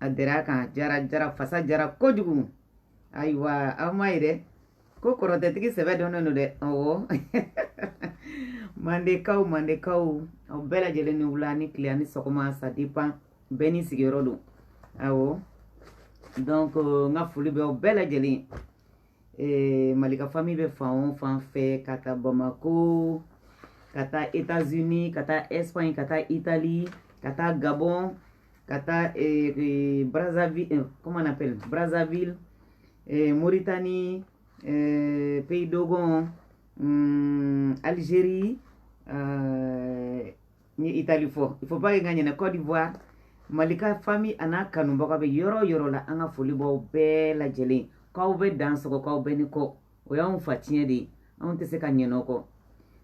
a dira kan diyara jara fasa diyara kojugu ayiwa aw m'a ye dɛ ko kɔrɔtɛtigi sɛbɛ dɔnnen don dɛ ɔwɔ mandekaw mandekaw aw bɛɛ lajɛlen ni wula ni tile ani sɔgɔma ça dépend bɛɛ n'i sigiyɔrɔ don awɔ donc euh, n ka foli bɛ aw bɛɛ lajɛlen eh, malika famille bɛ fan o fan fɛ ka taa bamako ka taa états-unis ka taa espagne ka taa italie ka taa gabon ka taa eh, eh, Brazzaville eh, comment on appelle Brazzaville eh, Mauritanie eh, Pays Dogon mm, Algérie euh, Italie fɔ il faut pas que n ka ɲinɛ Côte d'Ivoire Malika famille an'a kanubaga bɛ yɔrɔ o yɔrɔ la an ka foli b'aw bɛɛ lajɛlen k'aw bɛɛ dansɔgɔ k'aw bɛɛ ni kɔ o y'anw fatiɲɛ de ye anw tɛ se ka ɲinɛ o kɔ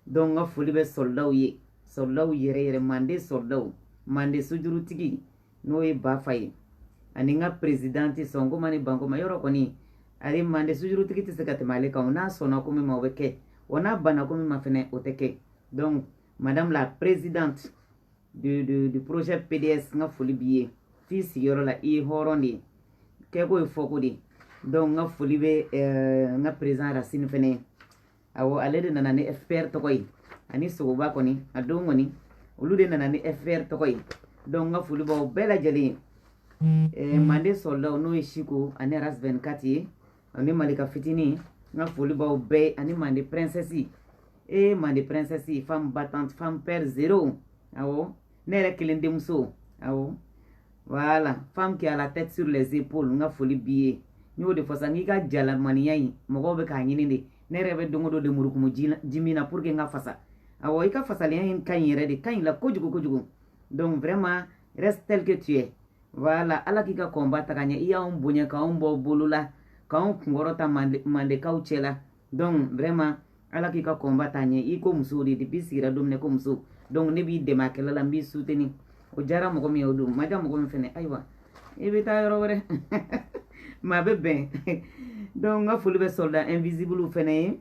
donc n ka foli bɛ sɔrɔdaw ye sɔrɔdaw yɛrɛ yɛrɛ manden sɔrɔdaw manden sojurutigi n'o ye bafa ye ani n ka présidente sɔnkoma ni bankoma yɔrɔ kɔni ale manden sojurutigi tɛ se ka tɛmɛ ale kan o n'a sɔnna ko min ma o bɛ kɛ wa n'a banna ko min ma fɛnɛ o tɛ kɛ donc madame la présidente de de du projet pds n ka foli b'i ye f'i sigiyɔrɔ la i ye hɔrɔn de ye kɛko ye fɔko de ye donc n ka foli bɛ n ka président racine fɛnɛ ye awɔ ale de nana ni fpr tɔgɔ ye ani sogoba kɔni a don kɔni olu de nana ni fpr tɔgɔ ye donc n ka foli b'aw bɛɛ lajɛlen ye manden sɔrɔdaw n'o ye siko ani ras 24 ye ani malika fitini n ka foli b'aw bɛɛ ani mande princesse ee mande princesse femme battante femme peur zéro awɔ ne yɛrɛ kelen denmuso awɔ voilà femme qui a la tête sur les épaules n ka foli b'i ye n y'o de fɔ sa n k'i ka jalamanya in mɔgɔw bɛ k'a ɲini de ne yɛrɛ bɛ don o don lemurukumu ji min na pour que n ka fasa awɔ i ka fasalenya in ka ɲi yɛrɛ de ka ɲ'i la kojugu kojugu donc vraiment reste tel que tu es voilà ala k'i ka combat taga ɲɛ i y'anw bonya k'anw bɔ bolo la k'anw kunkɔrɔta mandekaw cɛ la donc vraiment ala k'i ka combat taa ɲɛ i ko muso de depuis i sigira don min e ko muso donc ne b'i dɛmɛ a kɛlɛ la n b'i soutenir o diyara mɔgɔ min ye o don ma diya mɔgɔ min fɛnɛ ayiwa i bɛ taa yɔrɔ wɛrɛ ma bɛ bɛn donc n ka foli bɛ soldat invisible fɛnɛ ye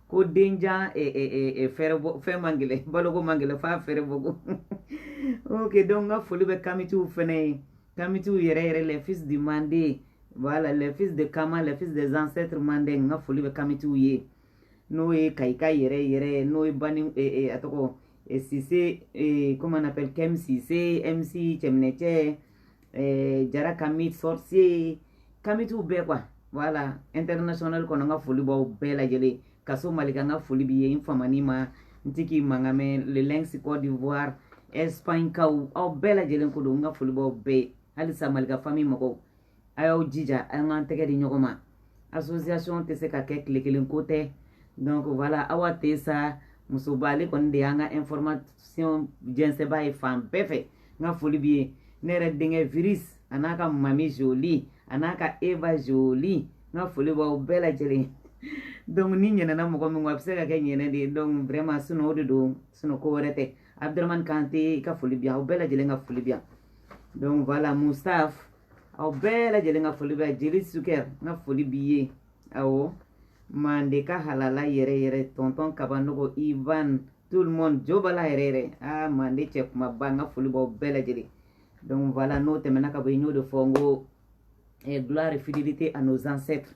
ko denjan eh, eh, eh, eh, fɛɛrɛ bɔ fɛn man gɛlɛ baloko man gɛlɛ f'a fɛɛrɛ bɔko ok donc n ka foli bɛ kamitiw fɛnɛ ye kamitiw yɛrɛ yɛrɛ les fils du mande voilà les fils de kama les fils des ancêtres mande n ka foli bɛ kamitiw ye n'o ye kayika yɛrɛ yɛrɛ n'o ye bani eh, eh, a tɔgɔ eh, sise eh, comment on appelle kem sise mc cɛminɛcɛ eh, jara kamit sorcier kamitiw bɛɛ quoi voilà international kɔnɔ n ka foli b'aw bɛɛ lajɛlen kaso malika n ka foli b'i ye n famani ma n ti k'i mankan mɛn le lynx côte d'ivoire espagne kaw aw bɛɛ lajɛlen ko don n ka foli b'aw bɛɛ halisa malika famille mɔgɔw a y'aw jija an k'an tɛgɛ di ɲɔgɔn ma association tɛ se ka kɛ tile kelen ko tɛ donc voilà awa tɛ sa musoba ale kɔni de y'an ka information jɛnsɛnba ye fan bɛɛ fɛ n ka foli b'i ye ne yɛrɛ denkɛ virus a n'a ka mami jolie a n'a ka eva jolie n ka foli b'aw bɛɛ lajɛlen donc ni ɲinɛna mɔgɔ min kɔ a bɛ se ka kɛ ɲinɛ de ye donc vraiment sinon o de don sinon ko wɛrɛ tɛ abdramani kante i ka foli bi yan aw bɛɛ lajɛlen ka foli bi yan donc voilà mustaf aw bɛɛ lajɛlen ka foli bɛ yan jeli suker n ka foli b'i ye awɔ mandeka halala yɛrɛ yɛrɛ tonton kabanogo ivan tout le monde jo bala yɛrɛ yɛrɛ aa mande cɛ kumaba n ka foli b'aw bɛɛ lajɛlen donc voilà n'o tɛmɛna ka bɔ yen n y'o de fɔ n ko gloire et fidélité à nos ancêtres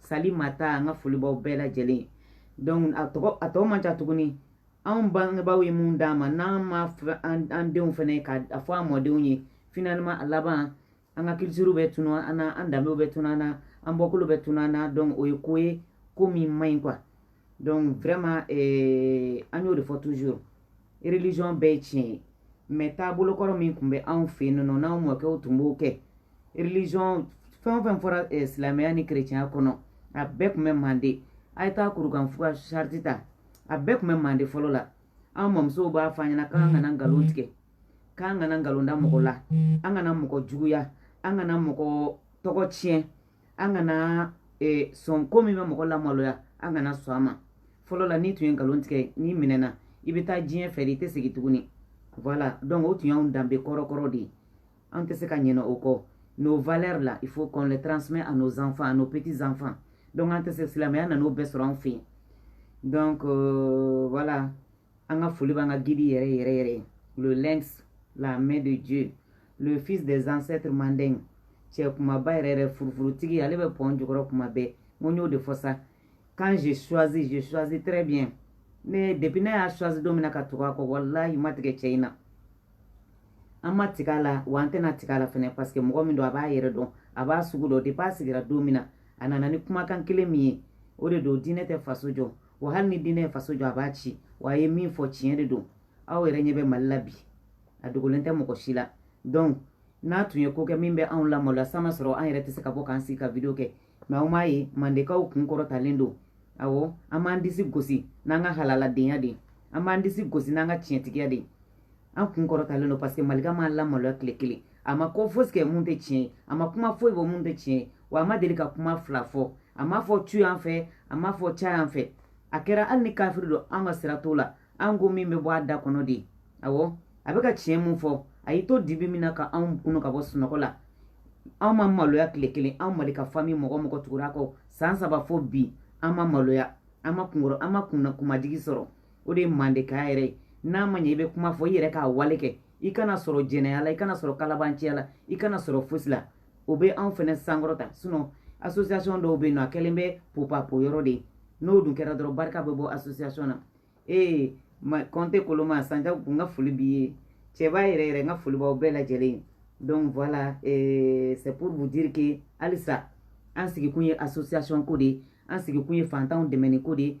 sali mata an ka foli b'aw bɛɛ lajɛlen donc a tɔw man ca tuguni anw bangebaaw ye min d'an ma n'an ma an denw fɛnɛ ka a fɔ an mɔdenw ye finalement a laban an ka culture bɛ tunu an na an danbew bɛ tunu an na an bɔkolo bɛ tunu an na donc o ye ko ye ko min man ɲi quoi donc vraiment eh, an y'o de fɔ toujours religion bɛɛ ye tiɲɛ ye mais taabolo kɔrɔ min tun bɛ anw fɛ yen nɔ n'anw mɔkɛw tun b'o kɛ religion fɛn o fɛn fɔra eh, silamɛya ni kerecɛnya kɔnɔ a bɛɛ tun bɛ mande a ye taa kurukan fuga charte ta a bɛɛ tun bɛ mande fɔlɔ la an mamusow b'a fɔ an ɲɛna k'an kana nkalon tigɛ k'an kana nkalon da mɔgɔ la an kana mɔgɔ juguya an kana mɔgɔ tɔgɔ tiɲɛ an kana e, sɔn ko min bɛ mɔgɔ lamaloya an kana sɔn a ma fɔlɔ la n'i tun ye nkalon tigɛ n'i minɛna i bɛ taa diɲɛ fɛ de i tɛ segin tuguni voilà donc o tun y'anw danbe kɔrɔkɔrɔ de ye an tɛ se ka ɲinɛ o kɔ nos valeurs là il faut qu'on les transmet à nos enfants à nos petits enfants donc an tɛ se silamɛya nan'o bɛɛ sɔrɔ an fɛ yen donc euh, voilà an ka foli b'an ka guide yɛrɛ yɛrɛ yɛrɛ ye le lynx la main de dieu le fils des ancêtres manden cɛ kumaba yɛrɛ yɛrɛ furufurutigi ale bɛ pɔn jukɔrɔ kuma bɛɛ n ko n y'o de fɔ sa quand je choisis je choisis très bien ne depuis ne y'a choisi don min na ka tugu a kɔ walahi ma tigɛ cɛ in na an ma tigɛ a la wa an tɛna tigɛ a la fɛnɛ parce que mɔgɔ min don a b'a yɛrɛ dɔn a b'a sugu dɔn depuis a sigira don min na a nana ni kumakan kelen min ye o de don diinɛ tɛ faso jɔ wa hali ni diinɛ ye faso jɔ a b'a ci wa a ye min fɔ tiɲɛ de don aw yɛrɛ ɲɛ bɛ mali la bi a dogolen tɛ mɔgɔ si la donc n'a tun ye ko kɛ min bɛ anw lamaloya san ma sɔrɔ an yɛrɛ tɛ se ka bɔ k'an sigi ka video kɛ mais aw m'a ye mandekaw kun kɔrɔtalen don awɔ an b'an disi gosi n'an ka halaladenya de ye an b'an disi gosi n'an ka tiɲɛtigiya de ye an kun kɔrɔtalen don parce que malika m'an lamaloya tile kelen a ma ko fosi kɛ mun tɛ tiɲɛ ye a ma kuma foyi bɔ mun tɛ tiɲɛ ye wa a ma deli ka kuma fila fɔ a m'a fɔ tu yan fɛ a m'a fɔ ca yan fɛ a kɛra hali ni kafiri don an ka sira t'o la an ko min bɛ bɔ a da kɔnɔ de awɔ a bɛ ka tiɲɛ mun fɔ a y'i to dibi min na ka anw kunu ka bɔ sunɔgɔ la anw ma maloya tile kelen anw malika famille mɔgɔ mɔgɔ tugura a kɔ san saba fo bi an ma maloya an ma kunkɔrɔ an ma kunna kunmajigi sɔrɔ o de ye mandekaya yɛrɛ ye n'a ma ɲɛ i bɛ kuma fɔ i yɛrɛ k'a wale kɛ i kana sɔrɔ jɛnɛya la i kana sɔrɔ kalabanciya la i kana sɔrɔ fosi la o bɛ anw fɛnɛ sankɔrɔta sinon association dɔw bɛ yen nɔ a kɛlen bɛ popapo yɔrɔ de ye n'o dun kɛra dɔrɔn barika bɛ bɔ association na ee kɔnte koloma sanja n ka foli b'i ye cɛba yɛrɛ yɛrɛ n ka foli b'aw bɛɛ lajɛlen ye donc voilà eh, c'est pour vous dire que halisa an sigikun ye association ko de ye an sigikun ye fantanw dɛmɛni ko de ye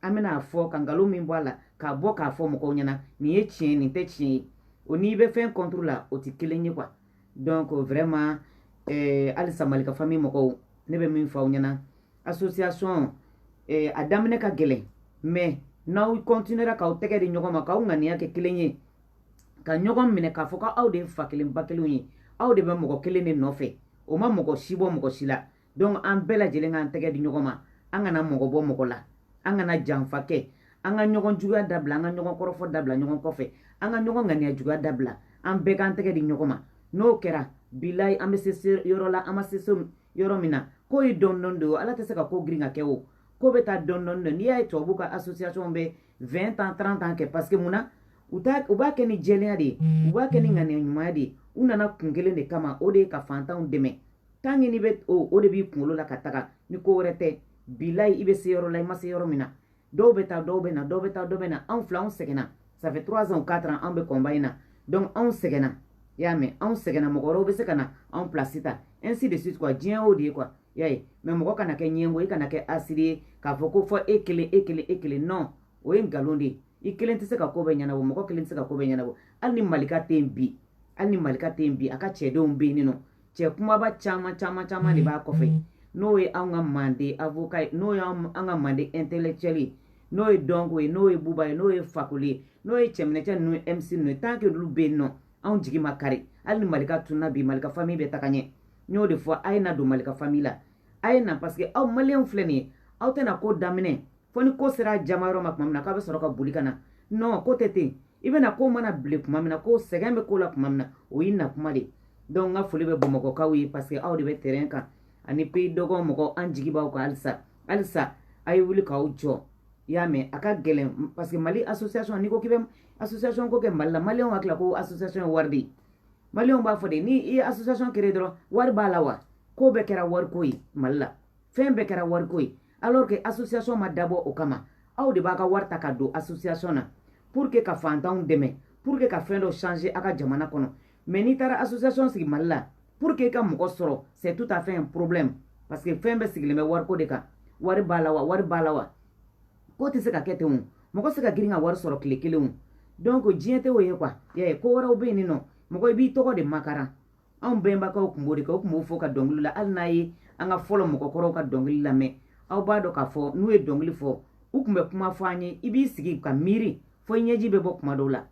an bɛna a fɔ ka nkalon min bɔ a la k'a bɔ k'a fɔ mɔgɔw ɲɛna nin ye tiɲɛ nin tɛ tiɲɛ ye o n'i bɛ fɛn contre la o tɛ kelen ye quoi donc vraiment eh, halisa malika famille mɔgɔw ne bɛ min fɔ aw ɲɛna association eh, a daminɛ ka gɛlɛn mais n'aw continuera k'aw tɛgɛ di ɲɔgɔn ma k'aw ŋaniya kɛ kelen ye ka ɲɔgɔn minɛ k'a fɔ ko aw de ye fa kelen ba kelenw ye aw de bɛ mɔgɔ kelen de nɔfɛ o ma mɔgɔ si bɔ mɔgɔ si la donc an bɛɛ lajɛlen k'an tɛgɛ di ɲɔgɔn ma an kana mɔgɔ bɔ mɔgɔ la an kana janfa kɛ an ka ɲɔgɔn juguya dabila an ka ɲɔgɔn kɔrɔfɔ dabila ɲɔgɔn kɔfɛ an ka ɲɔgɔn ŋaniya juguya dabila an bɛɛ k'an tɛgɛ di ɲɔgɔn ma n'o kɛra bilayi an bɛ se yɔrɔ la an ma se yɔrɔ min na ko ye dɔndɔni de ye ala tɛ se ka ko girin k'a kɛ o ko bɛ taa dɔndɔni de n'i y'a ye tubabuw ka association bɛ 20 ans 30 ans kɛ parce que mun na u t'a u b'a kɛ ni jɛlenya de ye u b'a kɛ ni ŋaniya ɲumanya de ye u nana kun kelen de kama o de ye ka fantanw dɛmɛ tant que n'i bɛ o de b'i kunkolo la ka taga ni ko wɛrɛ tɛ bilayi i bɛ se yɔrɔ la i ma se yɔrɔ min na dɔw bɛ taa dɔw bɛ na dɔw bɛ taa dɔw bɛ na anw fila anw sɛgɛnna ça fait trois ans quatre ans anw bɛ combat in na donc anw sɛgɛnna i y'a mɛn anw sɛgɛnna mɔgɔ wɛrɛw bɛ se ka na anw place ta ainsi de suite quoi diɲɛ y'o de ye quoi i y'a ye mais mɔgɔ kana kɛ ɲɛngo i kana kɛ hasidi ye k'a fɔ ko fɔ e kelen e kelen e kelen non o ye nkalon de ye i kelen tɛ se ka ko bɛɛ ɲɛnabɔ mɔgɔ kelen tɛ se ka ko bɛɛ ɲɛnabɔ hali ni malika tɛ yen bi hali ni malika tɛ yen bi a ka cɛdenw bɛ yen nɔ cɛ kumaba caman caman caman de b'a kɔfɛ n'o ye an ka mande avocat ye n'o ye an ka mande intellectuel ye n'o ye dɔnko ye n'o ye buba ye n'o ye fakoli ye n'o ye cɛminɛcɛ ninnu ye mc ninnu ye tant que olu bɛ yen nɔ anw jigi ma kari hali ni malika tunna bi malika famille bɛ taga ɲɛ n y'o de fɔ a ye na don malika famille la a ye na parce que aw maliyɛnw filɛ nin ye aw tɛna ko daminɛ fo ni ko sera jama yɔrɔ ma tuma min na k'a bɛ sɔrɔ ka boli ka na non ko tɛ ten i bɛna ko mana bilen tuma min na ko sɛgɛn bɛ ko la tuma min na o y'i na kuma de donc n ka foli bɛ bamakɔkaw ye parce que aw de bɛ terrain kan ani pays dɔgɔn mɔgɔ an jigi b'aw kan halisa halisa a ye wuli k'aw jɔ i y'a mɛn a ka gɛlɛn parce que mali association n'i ko k'i bɛ association ko kɛ mali la maliyɛnw hakili la ko association ye wari de ye maliyɛnw b'a fɔ de ni i ye association créer dɔrɔn wari b'a la wa ko bɛɛ kɛra wariko ye mali la fɛn bɛɛ kɛra wariko ye alors que association ma dabɔ o kama aw de b'a ka wari ta ka don association na pour que ka fantanw dɛmɛ pour que ka fɛn dɔ changer a ka jamana kɔnɔ mais n'i taara association sigi mali la pour que ka mɔgɔ sɔrɔ c'est tout à fait un problème parce que fɛn bɛɛ sigilen bɛ wariko de kan wari b'a la wa wari b'a la wa ko tɛ se ka kɛ ten o mɔgɔ se ka girin ka wari sɔrɔ tile kelen o donc diɲɛ tɛ o ye quoi yɛ ko wɛrɛw bɛ yen nin nɔ mɔgɔ i b'i tɔgɔ de makaran anw bɛnbakaw tun b'o de kɛ u tun b'o fɔ ka dɔnkili la hali n'a ye an ka fɔlɔ mɔgɔkɔrɔw ka dɔnkili lamɛn aw b'a dɔn k'a fɔ n'u ye dɔnkili fɔ u tun bɛ kuma fɔ an ye i b'i sigi ka miiri fo i ɲɛji bɛ bɔ kuma dɔw la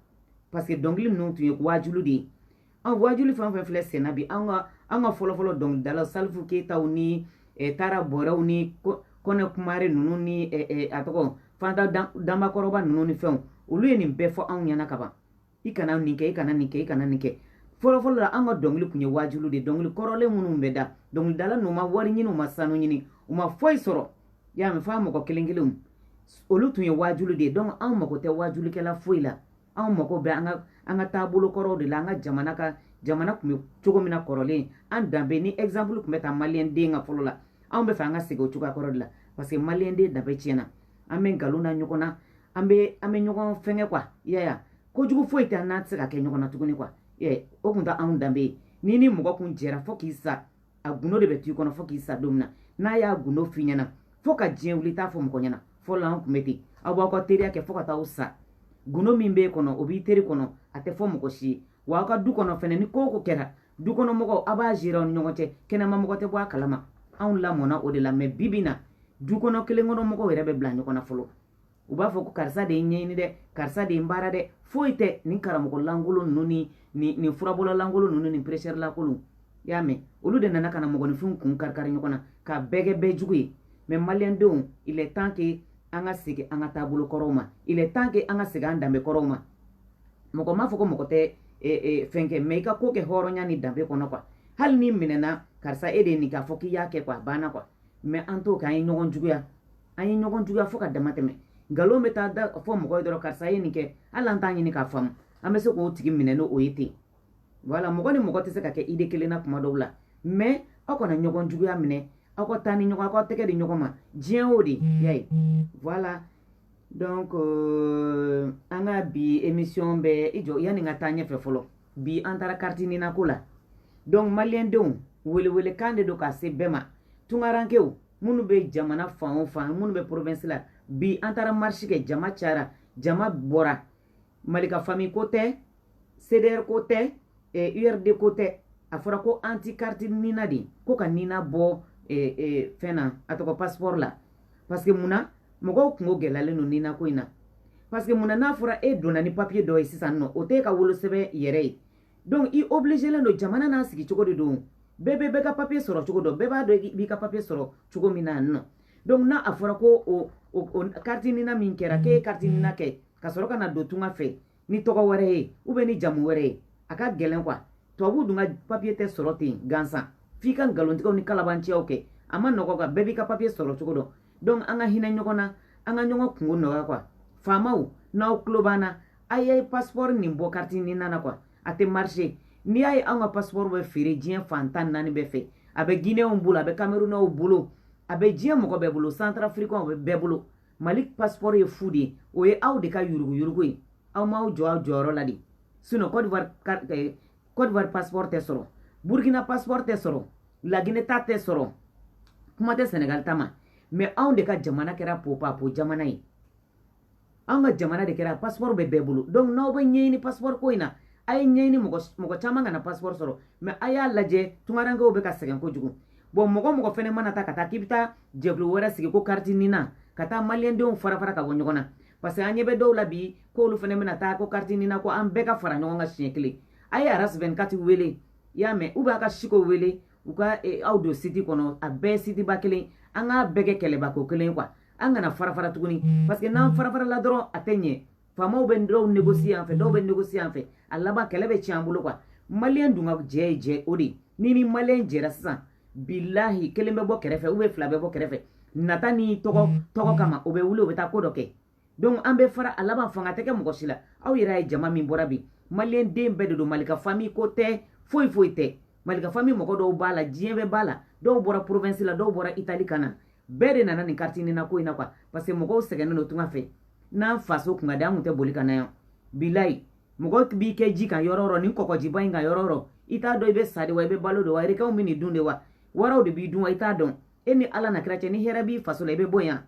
parce que dɔnkili ninnu tun ye waajulu de ye an waajuli fɛn o fɛn filɛ senna bi an ka an ka fɔlɔfɔlɔ dɔnkilidalaw salifu keyitaw ni eh, tara bɔrɛw ni kɔni kumare ninnu ni eh, eh, a tɔgɔ fanta danba kɔrɔba ninnu ni fɛnw olu ye nin bɛɛ fɔ anw ɲɛna kaban i kana nin kɛ i kana nin kɛ i kana nin kɛ fɔlɔfɔlɔ la an ka dɔnkili tun ye waajulu de dɔnkili kɔrɔlen minnu bɛ da dɔnkilidala ninnu ma wari ɲini u ma sanu ɲini u ma foyi sɔrɔ y'a mɛn f'a mɔgɔ kelen kelenw olu tun ye waajulu de ye donc anw mago tɛ waajulikɛla foyi la anw mago bɛ an ka an ka taabolo kɔrɔw de la an ka jamana ka jamana tun bɛ cogo min na kɔrɔlen an danbe ni exemple tun bɛ ta maliyɛnden kan fɔlɔ la anw b'a fɛ an ka segin o cogoya kɔrɔ de la parce que maliyɛnden danbe tiɲɛna an bɛ nkalon da ɲɔgɔn na an bɛ an bɛ ɲɔgɔn fɛngɛ quoi i y'a ye a kojugu foyi tɛ an n'a tɛ se ka kɛ ɲɔgɔn na tuguni quoi i y'a ye o tun tɛ anw danbe ye n'i ni mɔgɔ kun jɛra fo k'i sa a gundo de bɛ t'i kɔnɔ fo k'i sa don min na n'a y'a gundo f'i ɲɛna fo ka diɲɛ wuli i t'a fɔ mɔgɔ ɲɛna fɔlɔ an tun bɛ ten aw b'aw ka teriya kɛ fo ka taa aw sa gundo min b'e kɔnɔ o b'i teri kɔnɔ a tɛ fɔ mɔgɔ si ye wa aw ka du kɔnɔ fɛnɛ ni ko o ko kɛra du kɔnɔ mɔgɔw a b'a gérer aw ni ɲɔgɔn cɛ kɛnɛma mɔgɔ tɛ bɔ a kalama anw lamɔna o de la mais bibi na du kɔnɔ kelen kɔnɔ mɔgɔw yɛrɛ bɛ bila ɲɔgɔn na fɔlɔ u b'a fɔ ko karisa de y'e ɲɛɲini dɛ karisa de y'e baara dɛ foyi tɛ nin karamɔgɔ lankolon ninnu ni nin furabɔla lankolon ninnu ni prêcheur lankolon i y'a mɛn olu de nana ka na mɔgɔninfinw kun karikari ɲɔgɔn na ka bɛɛ kɛ bɛɛ jugu ye mais maliyɛndenw il est temps que an ka segin an ka taabolo kɔrɔw ma il est temps que an ka segin an danbe kɔrɔw ma mɔgɔ m'a fɔ ko mɔgɔ tɛ e, e, fɛn kɛ mais i ka ko kɛ hɔrɔnya ni danbe kɔnɔ quoi hali n'i minɛna karisa e de ye nin k'a fɔ k'i y'a kɛ quoi a banna quoi mais an t'o kɛ an ye ɲɔgɔn juguya an ye ɲɔgɔn juguya fo ka damatɛmɛ nkalon bɛ taa da fɔ mɔgɔ ye dɔrɔn karisa ye nin kɛ hali an t'a ɲini k'a faamu an bɛ se k'o tigi minɛ n'o o ye ten voilà mɔgɔ ni mɔgɔ tɛ se ka kɛ idée kelen na kuma dɔw la mais aw kana ɲɔgɔn juguya minɛ aw ka taa ni ɲɔgɔn aw ka tɛgɛ di ɲɔgɔn ma diɲɛ o de y'a ye voilà donc euh, an ka bi émission bɛ i jɔ yanni n ka taa ɲɛfɛ fɔlɔ bi an taara kariti nina ko la donc maliyɛndenw welewelekan de don ka se bɛɛ ma tunkarankew minnu bɛ jamana fan o fan minnu bɛ province la bi an taara marisi kɛ jama cayara jama bɔra mali ka famille ko tɛ cdr ko tɛ urd ko tɛ a fɔra ko anti kariti nina de ko ka nina bɔ fɛn na a tɔgɔ pasipɔri la parce que mun na mɔgɔw kungo gɛlɛyalen don nina ko in na parce que mun na n'a fɔra e donna ni papiye dɔ ye sisan n'o t'e ka wolosɛbɛn yɛrɛ ye donc i obligelen don jamana n'a sigi cogo de don bɛɛ bɛ bɛɛ ka papiye sɔrɔ cogo dɔn bɛɛ b'a dɔn i b'i ka papiye sɔrɔ cogo min na non donc n'a a fɔra ko o kariti nina min kɛra k'e ye kariti nina kɛ ka sɔrɔ ka na don tunga fɛ ni tɔgɔ wɛrɛ ye ou bien ni jamu wɛrɛ ye a ka gɛlɛn quoi tubabuw dun ka papiye tɛ sɔrɔ ten gansan f'i ka nkalontigɛw ni kalabanciyaw kɛ a man nɔgɔ quoi bɛɛ b'i ka papiye sɔrɔ cogo dɔn donc an ka hinɛ ɲɔgɔn na an ka ɲɔgɔn kungo nɔgɔya quoi faamaw n'aw tulo b'an na a ye pasipɔri nin bɔ kariti nina na quoi a tɛ marcher n'i y'a ye anw ka pasipɔri bɛ feere diɲɛ fan tan naani bɛɛ fɛ a bɛ gineyɛnw bolo a bɛ kamerunɛw bolo a bɛ diɲɛ mɔgɔ bɛɛ bolo santarafirikɛnw bɛ bɛɛ bolo mali pasipɔri ye fu de ye o ye aw de ka yuruguyurugu ye aw m'aw jɔ aw jɔyɔrɔ la de sinon kɔdiwari eh, pasipɔri tɛ sɔrɔ burkina pasipɔri tɛ sɔrɔ lagine ta tɛ sɔrɔ kuma tɛ sɛnɛgali ta ma mais anw de ka jamana kɛra popapo jamana ye anw ka jamana de kɛra pasipɔri bɛ bɛɛ bolo donc n'aw bɛ ɲɛɲini pasipɔri ko in na a ye ɲɛɲini mɔgɔ caman kana pasipɔri sɔrɔ mais a y'a lajɛ tungarankew bɛ ka sɛgɛn kojugu bon mɔgɔ o mɔgɔ fɛnɛ mana taa ka taa k'i bɛ taa jɛkulu wɛrɛ sigi ko kariti nina ka taa maliyɛndenw fara fara ka bɔ ɲɔgɔn na parce que an ɲɛ bɛ dɔw la bi k'olu fɛnɛ bɛna taa ko kariti nina ko an bɛɛ ka fara ɲɔgɔn kan siɲɛ kelen a ye aras 24 wele i y'a mɛn ou bien a ka siko wele u ka e, aw don siti kɔnɔ a bɛɛ sitiba kelen an k'a bɛɛ kɛ kɛlɛbako kelen quoi an kana fara fara tuguni parce que n'an fara farala dɔrɔn a tɛ ɲɛ faamaw bɛ dɔw négocier yan fɛ dɔw bɛ négocier yan fɛ a laban kɛlɛ bɛ tiɲɛ an bolo quoi maliyɛn dun ka jɛ ye jɛ o de ye ni ni maliyɛn jɛra sisan bilahi kelen bɛ bɔ kɛrɛfɛ ou bien fila bɛ bɔ kɛrɛfɛ nata ni tɔgɔ mm. tɔgɔ kama o bɛ wuli o bɛ taa ko dɔ kɛ donc an bɛ fara a laban fanga tɛ kɛ mɔgɔ si la aw yɛrɛ y'a ye jama min bɔra bi maliyɛnden bɛɛ de don mali ka famille ko tɛ foyi foyi tɛ malika famille mɔgɔ dɔw b'a la diɲɛ bɛɛ b'a la dɔw bɔra provinsi la dɔw bɔra itali ka na bɛɛ de nana nin kariti nina ko in na quoi parce que mɔgɔw sɛgɛnnen don tunga fɛ n'an faso kun ka di an kun tɛ boli ka na yan bilayi mɔgɔ b'i kɛ ji kan yɔrɔ yɔrɔ ni kɔgɔjiba in kan yɔrɔ yɔrɔ i t'a dɔn i bɛ sa de wa i bɛ balo de wa erekɛnw bɛ nin dun de wa waraw de b'i dun wa i t'a dɔn e ni ala n'a kira cɛ ni hɛrɛ b'i faso la i bɛ bɔ yan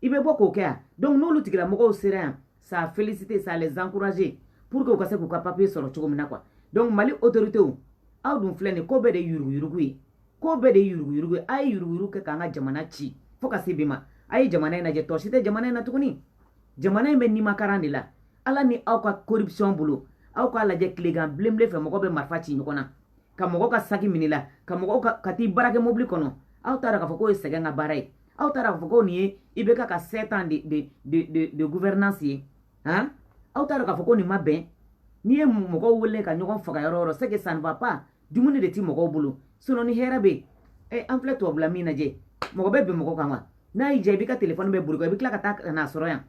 i bɛ bɔ k'o kɛ yan donc n'olu tigilamɔgɔw sera yan ça félicité ça les encourager pour que u ka se k'u ka papier sɔrɔ cogo min na quoi donc mali autoritéw aw dun filɛ nin ko bɛɛ de yuruguyurugu ye ko bɛɛ de yuruguyurugu ye a ye yuruguyurugu kɛ k'an ka jamana ci fo ka se bi ma a ye jamana in lajɛ tɔ si tɛ jamana in na tuguni jamana in bɛ nimakaran de la ala ni aw ka corruption bolo aw k'a lajɛ tilegan bilenbilen fɛ mɔgɔ bɛ marifa ci ɲɔgɔn na ka mɔgɔ ka saki min'a la ka mɔgɔ ka t'i braquer mobili kɔnɔ aw t'a dɔn k'a fɔ k'o ye sɛgɛn ka baara ye aw t'a dɔn k'a fɔ ko nin ye ibeka ka sept ans de de de de de gouvernance ye han aw t'a dɔn k'a fɔ ko nin ma bɛn n'i ye mɔgɔw wele ka ɲɔgɔn faga yɔrɔ yɔrɔ c'est que ça ne va pas dumuni de ti mɔgɔw bolo sinon ni hɛrɛ bɛ yen an filɛ tubabula min lajɛ mɔgɔ bɛ bin mɔgɔ kan wa n'a y'i diya i b'i ka telefɔni bila bolo kɔ i bɛ tila ka taa ka n'a sɔrɔ yan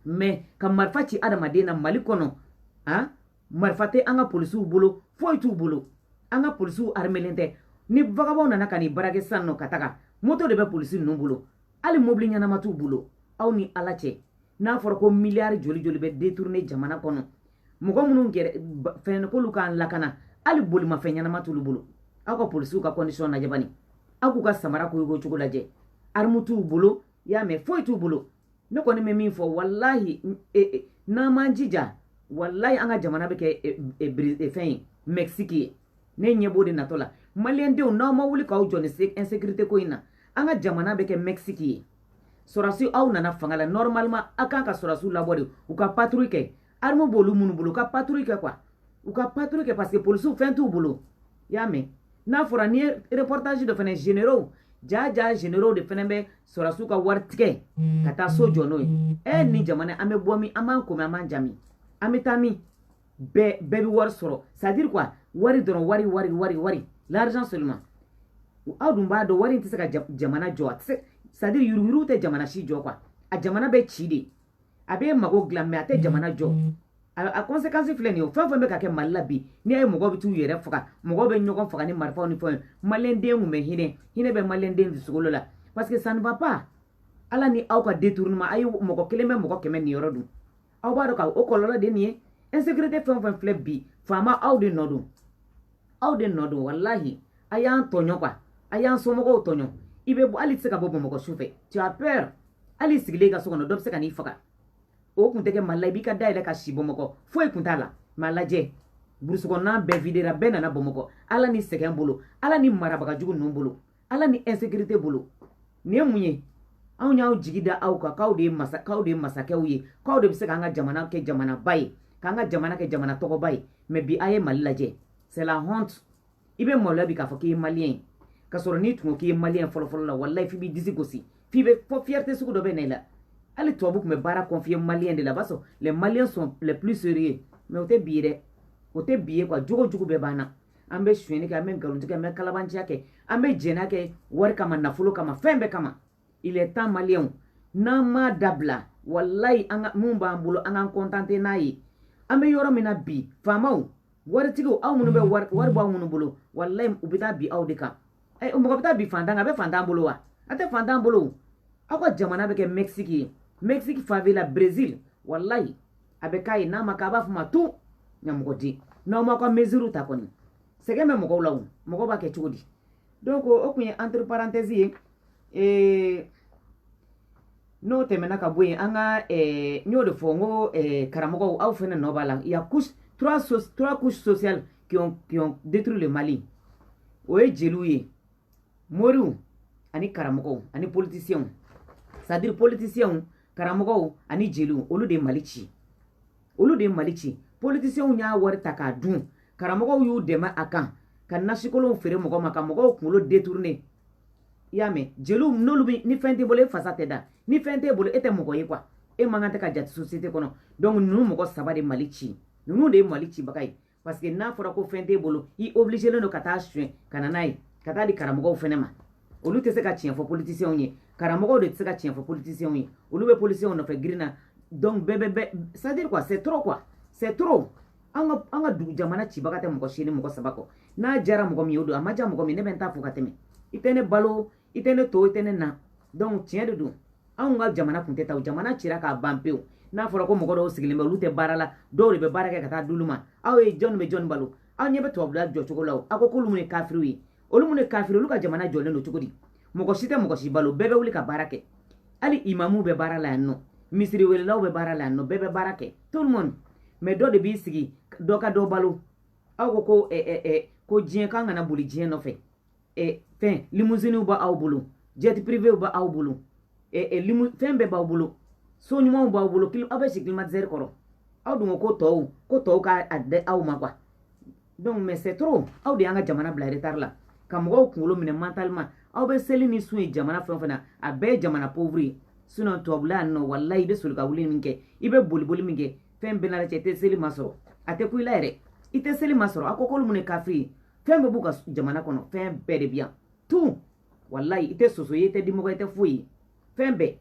mais ka marifa ci adamaden na mali kɔnɔ han marifa tɛ an ka polisiw bolo foyi t'u bolo an ka polisiw arimelen tɛ ni vagabɔnw nana ka n'i braquer san nɔ ka taga moto de bɛ polisi ninnu bolo hali mobili ɲɛnama t'u bolo aw ni ala cɛ n'a fɔra ko miliyari joli joli bɛ détourner jamana kɔnɔ mɔgɔ minnu yɛrɛ fɛn k'olu k'an lakana hali bolimafɛn ɲɛnama t'olu bolo aw ka polisiw ka condition lajɛ bani aw k'u ka samara koyoko cogo lajɛ arme t'u bolo y'a mɛn foyi t'u bolo ne kɔni bɛ min fɔ walahi e, e, n'an m'an jija walahi an ka jamana bɛ kɛ e, fɛn ye mɛkisiki ye ne ɲɛ b'o de natɔ la maliyɛndenw n'aw ma wuli k'aw jɔ nin insekirite ko in na an ka jamana bɛ kɛ mɛkisiki ye sɔrɔdasi aw nana fanga la normalement aw kan ka sɔrɔdasiw labɔ de u ka patrouille kɛ arme b'olu minnu bolo u ka patrouille kɛ quoi u ka patrouille kɛ parce que polisiw fɛn t'u bolo i y'a mɛn n'a fɔra n'i ye reportage dɔ fɛnɛ généraux jaa jaa généraux de fɛnɛ bɛ sɔrɔsiw ka wari tigɛ ka taa so jɔ n'o ye ɛ nin jamana an bɛ bɔ min an b'an komi an b'an jami an bɛ taa min bɛɛ bɛɛ bɛ wari sɔrɔ c'est à dire quoi wari dɔrɔn wari wari wari wari l'argent seulement aw dun b'a dɔn wari in tɛ se ka jamana jɔ a tɛ se c'est à dire yuruguyurugu tɛ jamana si jɔ quoi a jamana bɛ ci de a bɛ mago dilan mais a tɛ jamana jɔ a kɔnsekansi filɛ nin ye o fɛn fɛn bɛ ka kɛ mali la bi n'i ye mɔgɔw bɛ t'u yɛrɛ faga mɔgɔw bɛ ɲɔgɔn faga ni marifaw ni fɛnw maliyɛnden tun bɛ hinɛ hinɛ bɛ maliyɛnden dusukolo la parce que ça ne va pas ala ni aw ka détournement a ye mɔgɔ kelen bɛ mɔgɔ kɛmɛ niyɔrɔ dun aw b'a dɔn ka o kɔlɔlɔ de nin ye insécurité fɛn o fɛn filɛ bi faama aw de nɔ don aw de nɔ don walahi a y'an tɔɲɔ quoi a y'an somɔgɔw tɔɲɔ i bɛ bɔ hali i tɛ se ka bɔ bamakɔ su fɛ tu as peur hali sigilen ka so kɔnɔ dɔ bɛ se ka n'i faga o kun tɛ kɛ mali la i b'i ka da yɛlɛ ka si bamakɔ foyi kun t'a la mais a lajɛ burusi kɔnɔna bɛɛ videra bɛɛ nana bamakɔ ala ni sɛgɛn bolo ala ni marabagajugu ninnu bolo ala ni insécurité bolo nin ye mun ye anw y'an jigi da aw kan k'aw de ye masa k'aw de ye masakɛw ye k'aw de bɛ se k'an ka jamana kɛ jamanaba ye k'an ka jamana kɛ jamana tɔgɔba ye mais bi a ye mali lajɛ c'est la honte i bɛ maloya bi k'a fɔ k'i ye maliyɛn ye ka sɔrɔ n'i tun ko k'i ye maliyɛn fɔlɔfɔlɔ la walayi f'i b'i disi gosi f'i bɛ fɔ fierté sugu dɔ bɛ na i la hali tubabu tun bɛ baara confier maliyɛn de la b'a sɔrɔ les maliens sont les plus sérieux mais o tɛ bi ye dɛ o tɛ bi ye quoi jogo jugu bɛɛ b'an na an bɛ suɲɛni kɛ an bɛ nkalontigɛ kɛ an bɛ kalabanciya kɛ an bɛ jɛnɛ kɛ wari kama nafolo kama fɛn bɛɛ kama il est temps maliyɛnw n'an m'a dabila walayi an ka mun b'an bolo an k'an contenter n'a ye an bɛ yɔrɔ min na bi faamaw waritigiw aw minnu bɛ wari wari b'aw minnu bolo walayi u bɛ taa bin aw de kan ɛ mɔgɔ bɛ taa bin fantan kan a bɛ fantan bolo wa a tɛ fantan bolo aw ka jamana bɛ kɛ Mexique ye Mexique favela Brésil walayi a bɛ k'a ye n'a ma k'a b'a fɔ ma tun ɲamɔgɔden n'aw ma ka mesures ta kɔni sɛgɛn bɛ mɔgɔw la o mɔgɔw b'a kɛ cogo di donc o tun ye entre parenthèse ye ee n'o tɛmɛna ka bɔ yen an ka n y'o de fɔ n ko karamɔgɔw aw fana nɔ b'a la y a couche trois trois couches sociales qui ont qui ont détruit le Mali o ye jeliw ye moriw ani karamɔgɔw ani politiciens c'est-à-dire politiciens karamɔgɔw ani jeliw olu de mali ci olu de mali ci politisiyɛnw y'a wari ta k'a dun karamɔgɔw y'u dɛmɛ a kan ka nasikolonw feere mɔgɔw ma ka mɔgɔw kunkolo détourner i y'a mɛn jeliw n'olu bɛ ni fɛn t'i bolo e fasa tɛ da ni fɛn t'i bolo e tɛ mɔgɔ ye quoi e man kan tɛ ka jate société kɔnɔ donc ninnu mɔgɔ saba de mali ci ninnu de ye mali cibaga ye parce que n'a fɔra ko fɛn t'e bolo i obligelen don ka taa suɲɛ ka na n'a ye ka taa di karamɔgɔw fɛnɛ ma olu tɛ se ka tiɲɛ fɔ politisiyɛnw ye karamɔgɔw de tɛ se ka tiɲɛ fɔ politisiyɛnw ye olu bɛ politisiyɛnw nɔfɛ girin na donc bɛɛ bɛ bɛɛ c'est à dire quoi c'est trop quoi c'est trop an ka an ka dugu jamana cibaga tɛ mɔgɔ si nin mɔgɔ saba kɔ n'a jara mɔgɔ min ye o don a ma ja mɔgɔ min ne bɛ n ta fɔ ka tɛmɛ i tɛ ne balo i tɛ ne to i tɛ ne na donc tiɲɛ de don anw ka jamana kun tɛ tan o jamana cira k'a ban pewu n'a fɔra ko mɔgɔ dɔw sigilen bɛ olu tɛ baara la dɔw de bɛ baara kɛ ka taa d'olu ma aw ye jɔnni bɛ jɔnni balo aw ɲɛ bɛ tubabula jɔcogo la o aw ko k'olu mun ye kafiriw ye olu mun ye kafiri olu ka jamana jɔlen don cogo di mɔgɔ si tɛ mɔgɔ si balo bɛɛ bɛ wuli ka baara kɛ hali imamuw bɛ baara la yan nɔ misiri welelaw bɛ baara la yan nɔ bɛɛ bɛ baara kɛ tout le monde mais dɔ de b'i sigi dɔ ka dɔ balo aw ko ko eh, eh, eh, ko diɲɛ k'an kana boli diɲɛ nɔfɛ ɛ fɛn limousinew bɛ aw bolo jet privéw bɛ aw bolo ɛ limu fɛn bɛɛ b'aw bolo so ɲumanw b'aw bolo aw bɛ si climatiseur kɔrɔ aw dun ko ko tɔw ko tɔw ka a di aw ma quoi donc mais c'est trop aw de y'an ka jamana bila retard la ka mɔgɔw kunkolo minɛ mentalement aw bɛ seli ni sun ye jamana fɛn o fɛn na a bɛɛ ye jamana pauvre ye sinon tubabula yan nɔ walayi i bɛ soli ka wuli min kɛ i bɛ boliboli min kɛ fɛn bɛɛ n'a cɛ i tɛ seli masɔrɔ a tɛ kun i la yɛrɛ i tɛ seli masɔrɔ a ko k'olu mun ye kafiri ye fɛn bɛɛ b'u ka jamana kɔnɔ fɛn bɛɛ de bɛ yan tout walayi i tɛ soso ye i tɛ dimɔgɔ i tɛ foyi ye fɛn bɛɛ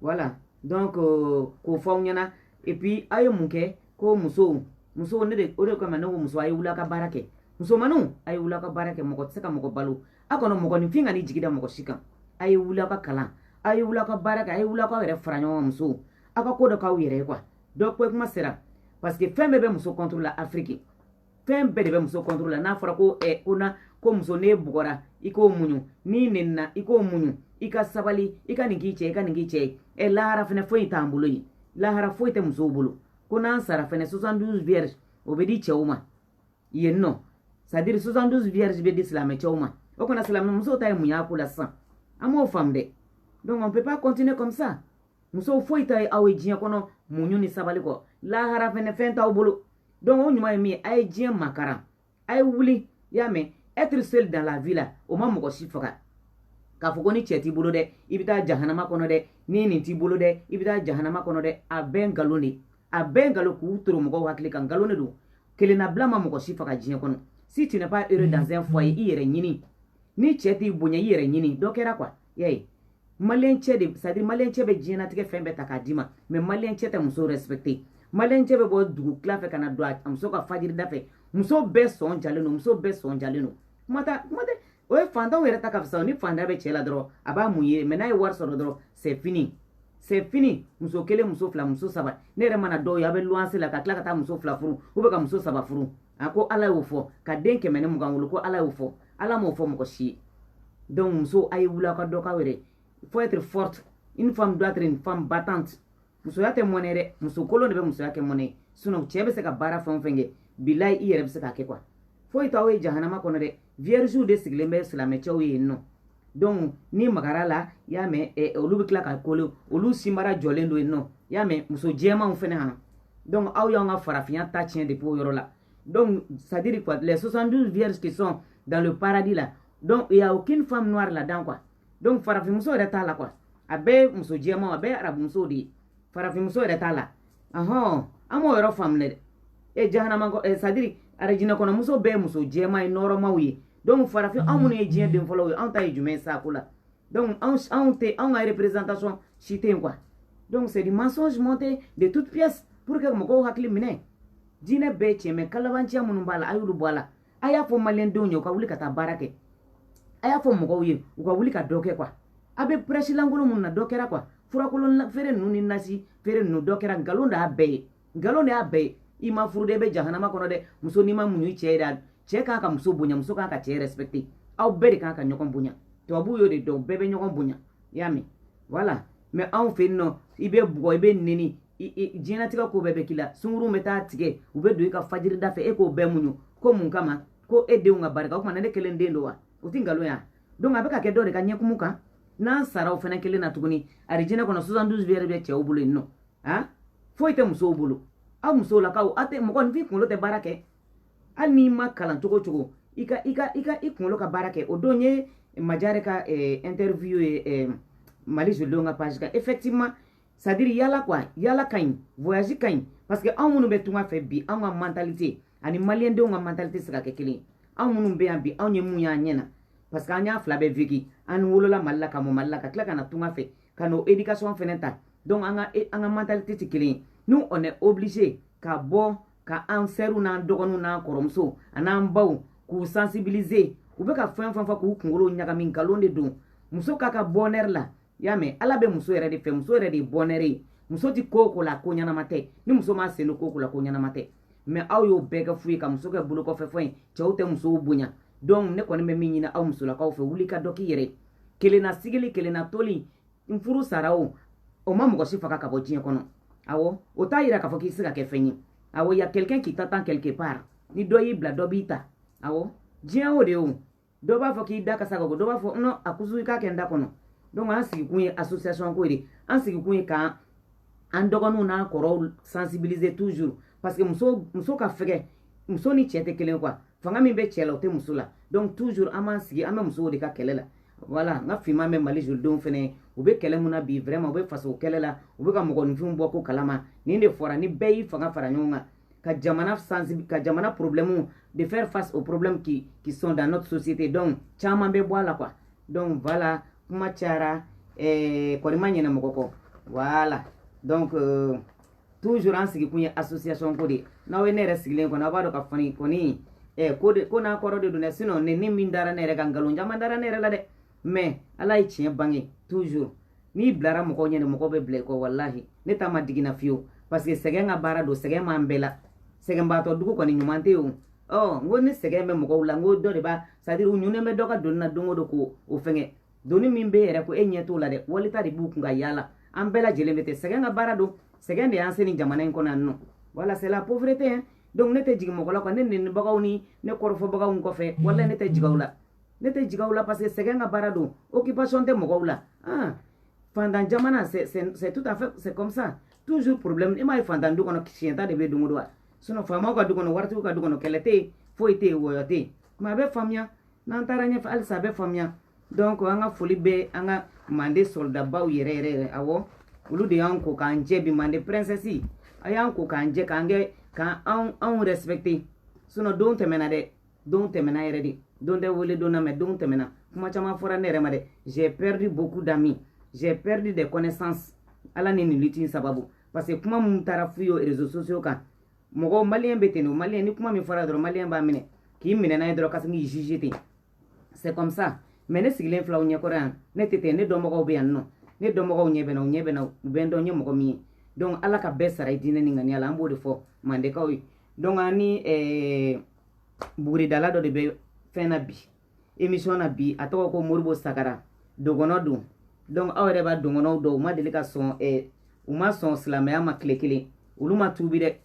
voilà donc euh, k'o fɔ aw ɲɛna et puis aw ye mun kɛ ko musow musow ne de o de kama ne ko muso a ye wuli a ka baara kɛ musomaninw a ye wuli a ka baara kɛ mɔgɔ tɛ se ka mɔgɔ balo a kɔnɔ mɔgɔninfin kan'i jigi da mɔgɔ si kan a ye wuli a ka kalan a ye wuli a ka baara kɛ a ye wuli a k'aw yɛrɛ fara ɲɔgɔn kan musow aw ka ko dɔ k'aw yɛrɛ ye quoi donc o kuma sera parce que fɛn bɛɛ bɛ muso contre la afiriki fɛn bɛɛ de bɛ muso contre la n'a fɔra ko ɛ ko na ko muso n'e bugɔra i k'o muɲu n'i nenina i k'o muɲu i ka sabali i ka nin k'i cɛ i ka nin k'i cɛ ye ɛ lahara fɛnɛ foyi t'an bolo yen lahara foyi tɛ musow bolo ko n'an sara fɛnɛ 72 vierges o bɛ di cɛw ma yen nɔ c'est à dire 72 vierges bɛ di silamɛ cɛw ma ok anw silamɛ musow ta ye mun y'a ko la sisan an m'o faamu dɛ donc on peut pas continuer comme ça musow foyi t'aw ye aw ye diɲɛ kɔnɔ muɲu ni sabali kɔ lahara fɛnɛ fɛn t'aw bolo donc o ɲuman ye min ye a ye diɲɛ makaran a ye wuli i y'a mɛn être seul dans la vie la o ma mɔgɔ si faga k'a fɔ ko ni cɛ t'i bolo dɛ i bɛ taa jahanama kɔnɔ dɛ ni nin t'i bolo dɛ i bɛ taa jahanama kɔnɔ dɛ a bɛɛ nkalon de a bɛɛ nkalon k'u turu mɔgɔw hakili kan nkalon de don kelennabila ma mɔgɔ si faga diɲɛ kɔnɔ si tu n'es pas heureux dans un foyer i yɛrɛ ɲini ni cɛ t'i bonya i yɛrɛ ɲini dɔ kɛra quoi y'a ye malien cɛ de c'est à dire malien cɛ bɛ diɲɛnatigɛ fɛn bɛɛ ta k'a d'i ma mais malien cɛ tɛ muso respecter malien cɛ bɛ bɔ dugu tila fɛ ka na don a muso kan fajiri da fɛ muso bɛɛ sɔn jalen don muso bɛɛ sɔn jalen don kuma t'a kuma tɛ o ye fantanw yɛrɛ ta ka fisa ni fantanya bɛ cɛ la dɔrɔn a b'a muɲu mais n'a ye wari sɔrɔ dɔrɔn c'est fini c'est fini muso kelen muso fila muso saba ne yɛrɛ mana dɔw ye a bɛ luwanse la ka tila ka taa muso fila furu ou bien ka muso saba furu a ko ala y'o fɔ ka den kɛmɛ ni mugan wolo ko ala y'o fɔ ala m'o fɔ mɔgɔ si ye donc muso a ye wuli aw ka dɔ k'aw yɛrɛ faut être forte une femme doit être une femme battante musoya tɛ mɔnɛ dɛ muso kolon de bɛ musoya kɛ mɔnɛ sinon cɛ bɛ se ka baara fɛn o fɛn kɛ bilayi i yɛrɛ bɛ se k'a kɛ quoi foyi t'aw ye jahanama kɔnɔ dɛ vierges de sigilen bɛ silamɛcɛw ye yen nɔ donc n'i magar'u la i y'a mɛn eh, olu bɛ tila ka coller olu sinbara jɔlen don yen nɔ i y'a mɛn muso jɛmanw fɛnɛ han donc aw y'an ka farafinya ta tiɲɛ depuis o yɔrɔ la donc c'est à dire quoi les 72 vierges qui sont dans le paradis là donc il y a aucune femme noire là-dedans quoi donc farafinmuso yɛrɛ t'a la quoi a bɛɛ muso jɛmanw a bɛɛ arabumusow de ye farafinmuso yɛrɛ t'a la ɔhɔn an m'o yɔrɔ faamu dɛ e jahanama kɔ ɛ c'est à dire arajinɛ kɔnɔ muso bɛɛ muso jɛman ye nɔrɔmaw ye donc farafin anw minnu ye diɲɛ den fɔlɔw ye anw ta ye jumɛn ye saako la donc anw anw tɛ anw ka représentation si tɛ yen quoi donc c'est du mensonge monté de toute pièce pour que mɔgɔw hakili minɛ diinɛ bɛɛ tiɲɛ mais kalabanciya minnu b'a la a y'olu bɔ a la a y'a fɔ maliyɛndenw ye u ka wuli ka taa baara kɛ a y'a fɔ mɔgɔw ye u ka wuli ka dɔ kɛ quoi a bɛ prêche lankolon minnu na dɔ kɛra quoi furakolon feere ninnu ni nasi feere ninnu dɔ kɛra nkalon de y'a bɛɛ ye nkalon de y'a bɛɛ ye i ma furu dɛ i bɛ jahanama kɔnɔ dɛ muso n'i ma muɲu i cɛ ye dɛ cɛ kan ka muso bonya muso kan ka cɛ respecter aw bɛɛ de kan ka ɲɔgɔn bonya tubabuw y'o de dɔn bɛɛ bɛ ɲɔgɔn bonya i y'a mɛn voilà mais anw fɛ yen non i bɛ bugɔ i bɛ neni diɲɛnatigɛ ko bɛɛ bɛ k'i la sunkurunw bɛ taa tigɛ u bɛ don i ka fajirida fɛ e k'o bɛɛ muɲu ko mun kama ko e denw ka barika o tuma ne kelen den don wa o tɛ nkalon ya donc a bɛ ka kɛ dɔ de ka ɲɛkumu kan n'an sara o fana kelen na tuguni arijinɛ kɔnɔ 72 vierges bɛ cɛw bolo yen non a foyi tɛ musow bolo aw musolakaw aw tɛ mɔgɔninfin kunkolo tɛ baara kɛ hali n'i ma kalan cogo cogo i ka i ka i ka i kunkolo ka baara kɛ o don ye majare ka eh, interview ye eh, mali jolidenw ka page kan effectivement c'est à dire yala quoi yala ka ɲi voyage ka ɲi parce que anw minnu bɛ tunga fɛ bi anw ka mentalité ani maliyɛndenw ka mentalité se ka kɛ kelen ye anw minnu bɛ yan bi anw ye mun y'an ɲɛ na parce que an y'a fila bɛɛ vécu an wolola mali la ka mɔ mali la ka tila ka na tunga fɛ ka n'o éducation fɛnɛ ta donc an ka an ka mentalité tɛ kelen ye nous on est obligé ka bɔ ka an sɛriw n'an dɔgɔninw n'an kɔrɔmuso an'an baw k'u sensibiliser u bɛ ka fɛn fɛn fɔ k'u kunkolo ɲagami nkalon de don muso kan ka bonheur la i y'a mɛn ala bɛ muso yɛrɛ de fɛ muso yɛrɛ de ye bonheur ye muso tɛ ko o ko la ko ɲɛnama tɛ ni muso m'a sen don ko o ko la ko ɲɛnama tɛ mais aw y'o bɛɛ kɛ fu ye ka muso kɛ bolokɔfɛfɛn ye cɛw tɛ musow bonya donc ne kɔni bɛ min ɲini aw musolakaw fɛ wuli ka dɔ k'i yɛrɛ kelenna sigili kelenna toli n furu sara o o ma mɔgɔ si faga ka bɔ diɲɛ kɔnɔ awɔ o t'a yira k'a fɔ k'i se ka kɛ fɛn ye awɔ y a quelqu'un qui t'attend quelque part ni dɔ y'i bila dɔ b'i ta awɔ diɲɛ o de ye o dɔ b'a fɔ k'i da kasa ka bɔ dɔ b'a fɔ non a kusu i k'a kɛ n da kɔnɔ donc an sigikun ye association ko de an sigikun ye k'an an dɔgɔninw n'a kɔrɔw sensibiliser toujours parce que muso muso ka fɛgɛ muso ni cɛ tɛ kelen quoi fanga min bɛ cɛ la o tɛ muso la donc toujours an b'an sigi an bɛ musow de ka kɛlɛ la voilà n ka finman bɛ mali jolidenw fɛnɛ u bɛ kɛlɛ mun na bi vraiment u bɛ faso kɛlɛ la u bɛ ka mɔgɔninfinw bɔ ko kalama nin de fɔra ni bɛɛ y'i fanga fara ɲɔgɔn kan ka jamana sensibi ka jamana problème de faire face aux problèmes qui qui sont dans notre société donc caman bɛ bɔ a la quoi donc voilà kuma cayara ɛɛ eh, kɔni ma ɲina mɔgɔ kɔ voilà donc euh, toujours an sigikun ye association ko de ye n'aw ye ne yɛrɛ sigilen kɔni aw b'a dɔn k'a fɔ ne kɔni eh, ko de ko n'a kɔrɔ de don dɛ sinon neni min dara ne yɛrɛ kan nkalon caman dara ne yɛrɛ la dɛ mais ala ye tiɲɛ bange toujours n'i bilara mɔgɔw ɲɛ de mɔgɔw bɛ bila i kɔ walahi ne ta ma digi n na fiyewu parce que sɛgɛn ka baara don sɛgɛn b'an bɛɛ la sɛgɛnbaatɔ dugu kɔni ɲuman tɛ yen o ɔ n ko ni sɛgɛn bɛ mɔgɔw la n ko dɔ de b'a c'est à dire u ɲunnen bɛ dɔ ka doni na don o don k'o o fɛngɛ doni min b'e yɛrɛ kun e ɲɛ t'o la dɛ wali ta de b'u kun ka yaala an bɛɛ lajɛlen bɛ ten sɛgɛn ka baara don sɛgɛn de y'an se nin jamana in kɔnɔ yan nɔ voilà c'est la pauvreté hein donc ne tɛ jigin mɔgɔ la quoi ne nenibagaw ni ne kɔrɔfɔbagaw kɔfɛ walahi ne tɛ jigin aw la ne tɛ jigin aw la parce que sɛgɛn ka baara don occupation tɛ mɔgɔw la ah fantan jamana c'est c'est tout à fait c'est comme ça toujours problème e m'a ye fantan du kɔnɔ siɲɛta de bɛ don o don wa sinon faamaw ka du kɔnɔ waritigiw ka du kɔnɔ kɛlɛ tɛ yen foyi tɛ yen wɔyɔ tɛ yen mais a bɛ faamuya n'an taara ɲɛfɛ halisa a bɛ faamuya donc an ka foli bɛ an ka mande soldabaw yɛrɛ yɛrɛ yɛrɛ awɔ olu de y'an ko k'an jɛ bi mande princesse a y'an ko k'an jɛ k'an kɛ k'an anw anw respecter sinon don tɛmɛna dɛ don tɛmɛna yɛrɛ de don tɛ wele don na mais don tɛmɛna kuma caman fɔra ne yɛrɛ ma dɛ j'ai perdu beaucoup d'amis j'ai perdu des connaissances ala ni nin lutte in sababu parce que kuma minnu taara f'u ye réseaux sociaux kan mɔgɔ maliyɛn bɛ ten de maliyɛn ni kuma min fɔra dɔrɔn maliyɛn b'a minɛ k'i minɛ n'a ye dɔrɔn ka sin k'i juger ten c'est comme ça mais ne sigilen filɛ aw ɲɛkɔrɔ yan ne tɛ ten ne dɔnbagaw bɛ yan nɔ ne dɔnbagaw ɲɛ bɛ n na u ɲɛ bɛ n na u bɛ n dɔn n ye mɔgɔ min ye donc ala ka bɛɛ sara i diinɛ ni ŋaniya la an b'o de fɔ mandekaw ye donc an ni eh, buguridala dɔ de bɛ fɛn na bi émission na bi a tɔgɔ ko moribo sagara dogɔnɔ don donc aw yɛrɛ b'a dogɔnɔw dɔn u ma deli ka sɔn eh, u ma sɔn silamɛya ma tile kelen olu ma tuubi dɛ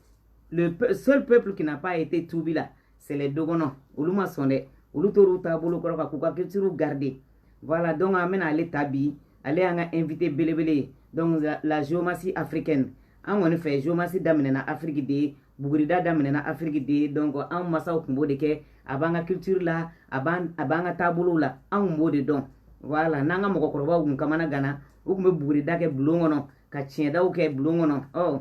le pe seul peuple qui n'a pas été tuubi la c'est les dogɔnɔ olu ma sɔn dɛ olu tor'u taabolo kɔrɔ kan k'u ka culture garder voilà donc an bɛna ale ta bi ale y'an ka invité belebele ye donc la, la géomancie africaine an kɔni fɛ géomancie daminɛna afiriki de ye bugurida daminɛna afiriki de ye donc anw masaw kun b'o de kɛ a b'an ka culture la a b'an ka taabolow la anw kun b'o de dɔn voilà n'an ka mɔgɔkɔrɔbaw kun kamanaganna u kun bɛ bugurida kɛ bulon kɔnɔ ka tiɲɛdaw kɛ bulon kɔnɔ ɔ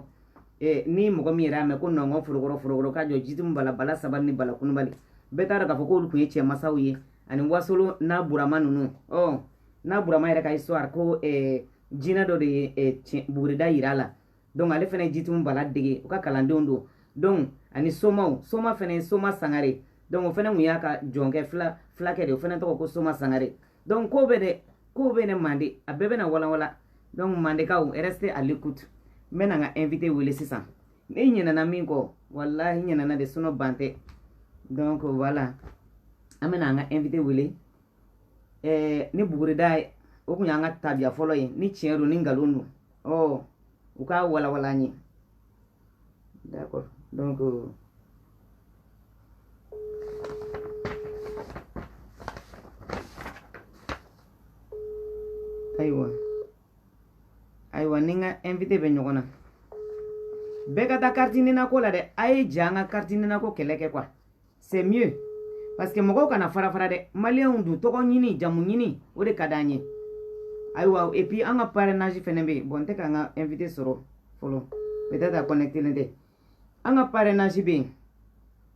eh, ni mɔgɔ min yɛrɛ y'a mɛn ko nɔngɔn forokɔrɔ forokɔrɔ ka jɔ jitumu bala bala sabali ni bala kunubali bɛɛ t'a dɔn k'a fɔ k'olu kun ye cɛn masaw ye ani wasolo n'a burama ninnu ɔ n'a burama yɛrɛ ka histoire ko eh, jinɛ dɔ de ye eh, bugurida yira a la donc ale fana ye jitumu bala dege u ka kalandenw don donc ani somaw soma fana ye soma sangare donc o fana tun y'a ka jɔnkɛ fila filakɛ de o fana tɔgɔ ko soma sangare donc ko bɛ dɛ ko bɛ ne mande a bɛɛ bɛna walanwalan donc mandekaw restez à l'écoute n bɛna n ka invité wele sisan ne ɲinɛna min kɔ walahi ɲinɛna de sinon ban tɛ donc voilà an bɛna an ka invité wele ɛɛ ni bugurida ye o kun y'an ka tabiya fɔlɔ ye ni tiɲɛ don ni nkalon don ɔ u k'a walawala an ye d'accord donc euh, ayiwa ayiwa ni n ka invité bɛ ɲɔgɔn na bɛɛ ka taa kariti ninako la dɛ a ye ja an ka kariti ninako kɛlɛ kɛ quoi c'est mieux parce que mɔgɔw kana fara fara dɛ maliyɛnw dun tɔgɔ ɲini jamu ɲini o de ka d'an ye ayiwa et puis an ka parrainage fɛnɛ bɛ yen bon n tɛ k'an ka invité sɔrɔ fɔlɔ peut-être a connectelen tɛ an ka parrainage bɛ yen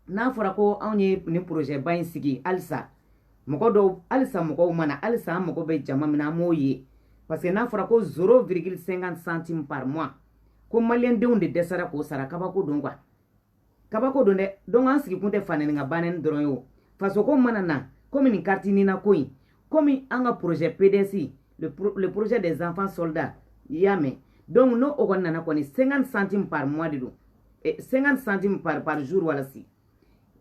n'a fɔra ko anw ye nin projet ba in sigi halisa mɔgɔ dɔw halisa mɔgɔw ma na halisa an mago bɛ jama min na an m'o ye parce que n'a fɔra ko 0,50 centime par mois ko maliyɛndenw de dɛsɛra k'o sara kabako don quoi kabako don dɛ donc an sigikun tɛ fanɛni ka banɛni dɔrɔn ye o fasoko mana na komi nin kariti nina ko in komi an ka projet pds le, pro, le projet des enfants soldats i y'a mɛn donc n'o o kɔni nana kɔni 50 centime par mois de don 50 centime par, par jour walasi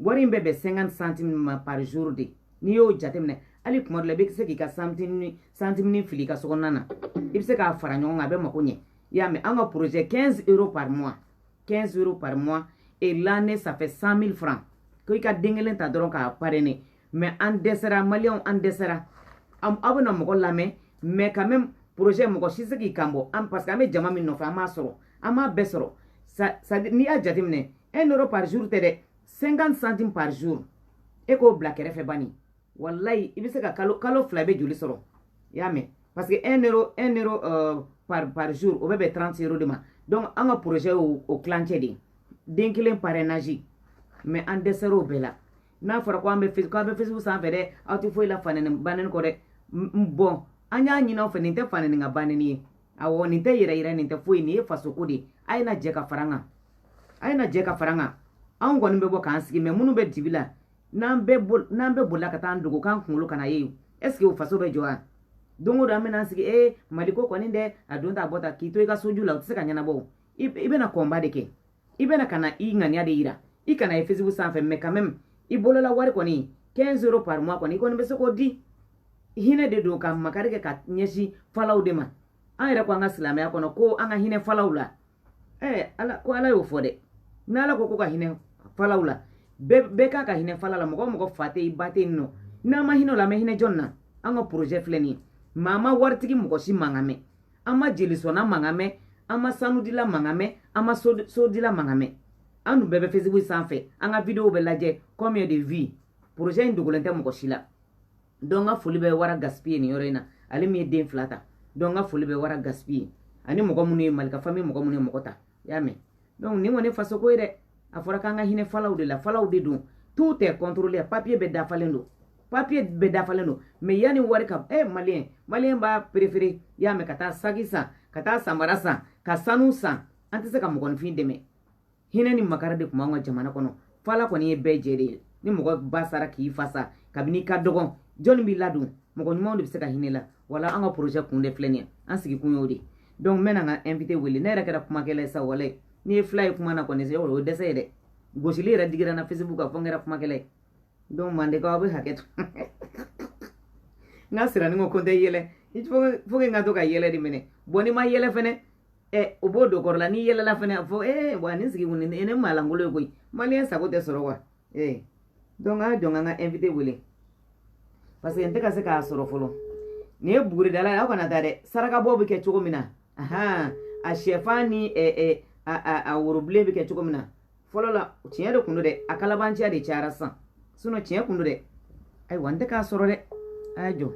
wari in bɛ bɛn 50 centime ma par jour de n'i y'o jateminɛ hali kuma dɔ la i bɛ se k'i ka santimini fili i ka sokɔnɔna na i bɛ se k'a fara ɲɔgɔn kan a bɛ mako ɲɛ i y'a mɛn an ka projet 15 euro par mois 15 euros par mois et l'année ça fait 100 000 francs ko i ka den kelen ta dɔrɔn k'a parrainer mais an dɛsɛra maliyɛnw an dɛsɛra aw bɛna mɔgɔ lamɛn mais quand même projet mɔgɔ si se k'i kan bɔ parce que an bɛ jama min nɔfɛ an m'a sɔrɔ an m'a bɛɛ sɔrɔ n'i y'a jateminɛ 1 euro par jour tɛ dɛ 50 centimes par jour e k'o bila kɛrɛfɛ bani walayi i bɛ se ka kalo kalo fila i bɛ joli sɔrɔ i y'a mɛn parce que un euro un euro euh, par par jour o bɛ bɛn 30 euro de ma donc an ka projet y'o o tilancɛ de ye den kelen parrainage mais an dɛsɛra o bɛɛ la n'a fɔra ko an bɛ facebook k'aw bɛ facebook sanfɛ dɛ aw tɛ foyi la fanɛni banɛni kɔ dɛ bon an y'a ɲini aw fɛ nin tɛ fanɛni ka banɛni ye awɔ nin tɛ yɛrɛ yɛrɛ nin tɛ foyi nin ye fasoko de ye a ye na jɛ ka fara an kan a ye na jɛ ka fara an kan anw kɔni bɛ bɔ k'an sigi mais minnu bɛ dibi la n'an bɛɛ bolila ka taa an dogo k'an kunkolo kana ye est ce que o faso bɛ jɔ wa don o don an bɛna sigi ee mali ko kɔni dɛ a don ta bɔ ta k'i to i ka soju la o tɛ se ka ɲɛnabɔ i bɛna combat de kɛ i bɛna ka na i ŋaniya de yira i kana ye facebook sanfɛ mais quand même i bolola wari kɔni 15 euro par mois kɔni i kɔni bɛ se k'o di hinɛ de don ka makari kɛ ka ɲɛsin falaw de ma an yɛrɛ ko an ka silamɛya kɔnɔ ko an ka hinɛ falaw la ɛɛ ala ko ala y'o fɔ dɛ n'ala ko ko ka hinɛ falaw la bɛɛ ka kan ka hinɛ fala la mɔgɔ mɔgɔ fa tɛ i ba tɛ yen nɔ n'an ma hinɛ o la an bɛ hinɛ jɔn na an ka projet filɛ nin ye mais an ma waritigi mɔgɔ si mankan mɛn an ma jelisɔnna mankan mɛn an ma sanudila mankan mɛn an ma sodila mankan mɛn an dun bɛɛ bɛ facebook sanfɛ an ka videow bɛ lajɛ combien de vues projet in dogolen tɛ mɔgɔ si la donc n ka foli bɛ wara gaspi ye nin yɔrɔ in na ale min ye den fila ta donc n ka foli bɛ wara gaspi ye ani mɔgɔ minnu ye malika famille mɔgɔ minnu ye mɔgɔ ta i y'a mɛn donc nin kɔni faso ko ye dɛ a fɔra k'an ka hinɛ falaw de la falaw de don tout est contrôlé papier bɛɛ dafalen don papier bɛɛ dafalen don mais yanni wari ka eh maliyɛn maliyɛn b'a préféré i y'a mɛn ka taa saki san ka taa samara san ka sanu san an tɛ se ka mɔgɔninfin dɛmɛ hinɛ ni makari de tun b'an ka jamana kɔnɔ fala kɔni ye bɛɛ jɛ de ye ni mɔgɔ ba sara k'i fa sa kabini i ka dɔgɔn jɔnni b'i ladon mɔgɔ ɲumanw de bɛ se ka hinɛ la voilà an ka projet kun de filɛ nin ye an sigikun y'o de ye donc n bɛna n ka invité wele ne yɛrɛ kɛra kumakɛla ye sa walayi n'i ye fila ye kuma na kɔni o ye dɛsɛ ye dɛ gosili yɛrɛ digira n na facebook kan fo n kɛra kumakɛla ye donc mandekaw aw bɛ hakɛ to n ka sirani ko ko n tɛ yɛlɛ faut que n ka to ka yɛlɛ de minɛ bon n'i ma yɛlɛ fɛnɛ ɛ o b'o don kɔrɔ la n'i yɛlɛla fɛnɛ a fɔ ee wa nin sigi kun nin ye maa lankolon ye koyi maliyɛn sago tɛ sɔrɔ wa ee donc a jɔ n ka n ka invité wele parce que n tɛ ka se k'a sɔrɔ fɔlɔ nin ye buguridala ye aw kana taa dɛ sarakabɔ bɛ kɛ cogo min na ahan a sɛfan ni ɛ ɛ a a a worobilen bɛ kɛ cogo min na fɔlɔ la tiɲɛ de kun don dɛ a kalabanciya de cayara sisan sinon tiɲɛ kun don dɛ ayiwa n tɛ k'a sɔrɔ dɛ a y'a jɔ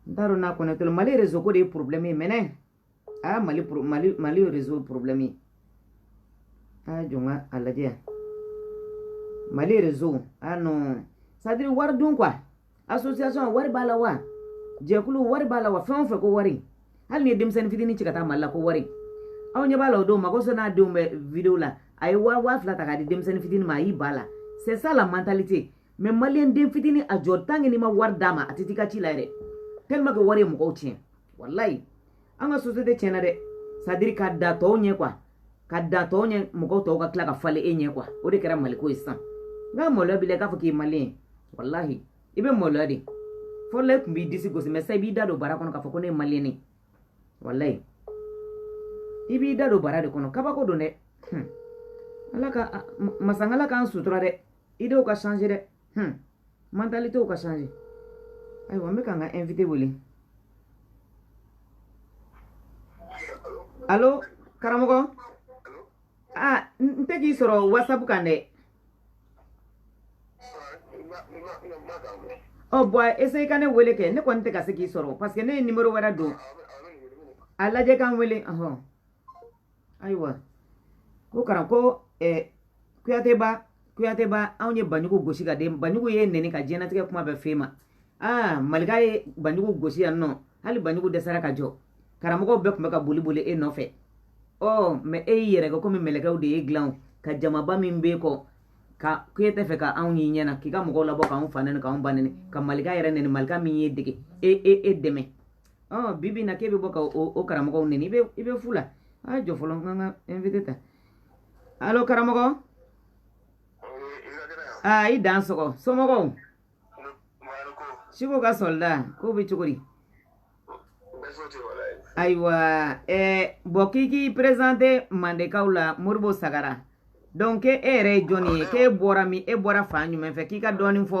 n t'a dɔn n'a connecté lo mali réseau ko de ye problème ye mais a y'a mali mali mali réseau problème ye a y'a jɔ n ka a lajɛ yan mali réseau a non c'est à dire wari dun quoi association wari b'a la wa jɛkulu wari b'a la wa fɛn o fɛn ko wari hali n'i ye denmisɛnnin fitinin ci ka taa mali la ko wari aw ɲɛ b'a la o don mago sɔn n'a denw bɛ vidéo la a ye waa waa fila ta k'a di denmisɛnnin fitinin ma a y'i ba la c'est ça la mentalité mais maliyɛn den fitinin a jɔ tant que n'i ma wari d'a ma a tɛ t'i ka ci la yɛrɛ tellement que wari ye mɔgɔw tiɲɛ walayi an ka société tiɲɛna dɛ c'est à dire ka da tɔw ɲɛ quoi ka da tɔw ɲɛ mɔgɔw tɔw ka tila ka falen e ɲɛ quoi o de kɛra mali ko ye sisan nka maloya b'i la k'a fɔ k'i ye maliyɛn ye walahi i bɛ maloya de fɔlɔ e tun b'i disi gosi mais sisan i b'i da don bara kɔnɔ k'a fɔ ko ne ye maliyɛn ye walayi i b'i da don bara de kɔnɔ kabako don dɛ ala ka masangala k'an sutura dɛ idéw ka changer dɛ hmm. mentalitéw ka changer ayiwa n bɛ ka n ka invité wele allo karamɔgɔ ah n tɛ k'i sɔrɔ whatsapp kan dɛ ɔ oh, bon essaye ka ne wele kɛ ne kɔni tɛ ka se k'i sɔrɔ parce que ne ye numéro wɛrɛ don a lajɛ ka n wele ɔhɔn ayiwa ko karan ko eh, kuyateba kuyateba anw ye banjugu gosi ka den banjugu y'e nɛni ka diɲɛnatigɛ kuma bɛɛ f'e ma aa malika ye banjugu gosi yan nɔ hali banjugu dɛsɛra ka jɔ karamɔgɔw bɛɛ tun bɛ ka boli boli e nɔfɛ ɔ mɛ e y'i yɛrɛ kɛ komi mɛlɛkɛw de y'i dilan ka jamaba min b'e kɔ ka k'e tɛ fɛ ka anw y'i ɲɛna k'i ka mɔgɔw labɔ k'anw fa nɛni k'anw ba nɛni ka malika yɛrɛ nɛni malika min y'e dege e e e dɛmɛ ɔ bi bi in na k'e bɛ bɔ ka o o karamɔgɔw nɛni i bɛ i bɛ fu la a jɔ fɔlɔ n ka n ka invité ta alo karamɔgɔ aa i dansɔgɔ somɔgɔw siko ka sɔlida k'o bɛ cogo di ayiwa ɛɛ bɔn k'i k'i présenter mandekaw la moribo sagara donc e yɛrɛ ye jɔnni ye k'e bɔra min e bɔra fan jumɛn fɛ k'i k'a dɔɔnin fɔ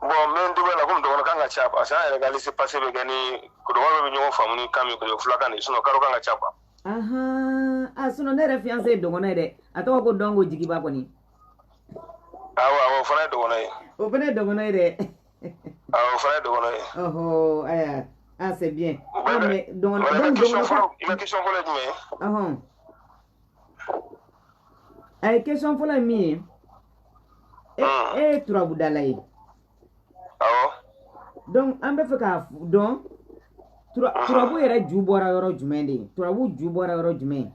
bɔn n bɛ n dɔgɔya la komi dɔgɔnɔ kan ka ca parce que an yɛrɛ ka lise pase bɛ kɛ ni dɔgɔnɔ bɛɛ bɛ ɲɔgɔn faamu ni kan min kɔnɔ fulakan de sinɔ kado kan ka ca quoi ahan a sinɔ ne yɛrɛ fiyanse ye dɔgɔnɔ ye dɛ a tɔgɔ ko dɔnko jigiba kɔni awɔ awɔ o fana ye dɔgɔnɔ ye o fana ye dɔgɔnɔ ye dɛ awɔ o fana ye dɔgɔnɔ ye ɔhɔ aya ah c'est bien ah mais dɔgɔnɔ don dɔgɔnɔ i ma question fɔlɔ ye jumɛn ye a ye question fɔlɔ ye min ye e, e ye turabu dala ye donc an bɛ fɛ k'a dɔn turabu yɛrɛ ju bɔra yɔrɔ jumɛn de ye turabu ju bɔra yɔrɔ jumɛn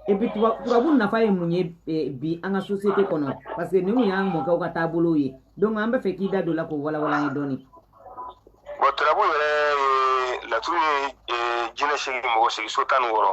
et puis turabu nafa ye mun ye e, bi an ka société kɔnɔ parce que ninnu y'an mɔkɛw ka taabolow ye donc an bɛ fɛ k'i da don a la k'o walawala an ye dɔɔnin bon turabu yɛrɛ laturu ye jinɛ segin mɔgɔ segin so tan ni wɔɔrɔ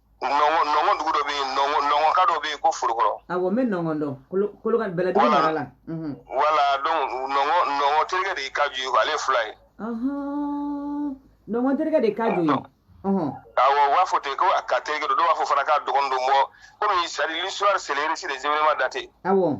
nɔngɔn dugu dɔ bɛ yen nɔngɔnka dɔ bɛ yen ko forokɔrɔ. awɔ n bɛ nɔngɔn dɔn kolo kolokan bɛlɛdugu mara la. wala donc nɔngɔn nɔngɔn terikɛ de ye kaju ye ale ye fula ye. nɔngɔn terikɛ de ye kaju ye. awɔ u b'a fɔ ten ko a ka terikɛ don dɔw b'a fɔ fana k'a dɔgɔnin don bɔn komi sari l'histoire c'est le récit des événements datés. awɔ.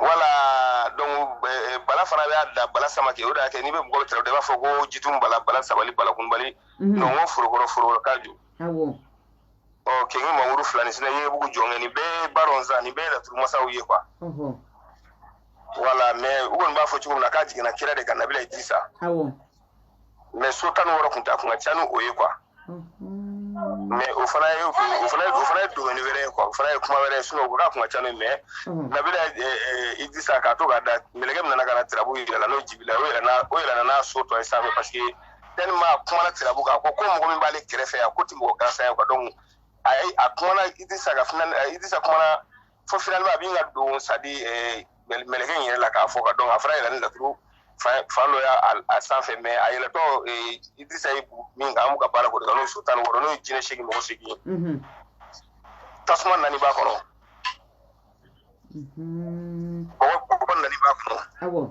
wala donc eh, bala fana b'a la bala samake o de y'a kɛ n'i bɛ mɔgɔ tɛrɛ i b'a fɔ ko jitumu bala bala sabali bala kunbali mhm. nɔngɔn forokɔrɔ forokɔrɔ kaju ɔ kenge mamuru filanin sinɛ ye bugu jɔnkɛ nin bɛɛ baron sa nin bɛɛ laturu masaw ye quoi wala mais u kɔni b'a fɔ cogo min na k'a jiginna kira de kan nabila idirisa mɛ so tan ni wɔɔrɔ ko takun ka ca ni o ye quoi mɛ o fana ye o fana o fana ye dɔnni wɛrɛ ye quoi o fana ye kuma wɛrɛ ye sinɔ o ka kun ka ca ni mɛ nabila idirisa k'a to ka da mɛlɛkɛ min nana ka na tirabu yir'a la n'o jibila o yɛrɛ na o yɛrɛ n'a so tɔ ye sanfɛ parce que tɛnima kumana tirabu kan ko ko mɔgɔ min b'ale kɛrɛfɛ yan k'o tɛ mɔgɔ gansan ye quoi donc a ye a kumana idirisa kan fana idirisa kumana fo finalement a b'i ka don sadi mɛlɛkɛ in yɛrɛ la k'a fɔ ko donc a fana yɛlɛla ni laturu fan dɔ y'a a sanfɛ mais a yɛlɛtɔ idrisa ye min kan an bɛ ka baara k'o de kan n'o so tan wɔɔrɔ n'o ye jinɛ seegin mɔgɔ seegin mhm. tasuma naani b'a kɔnɔ mhm. bɔgɔ naani b'a kɔnɔ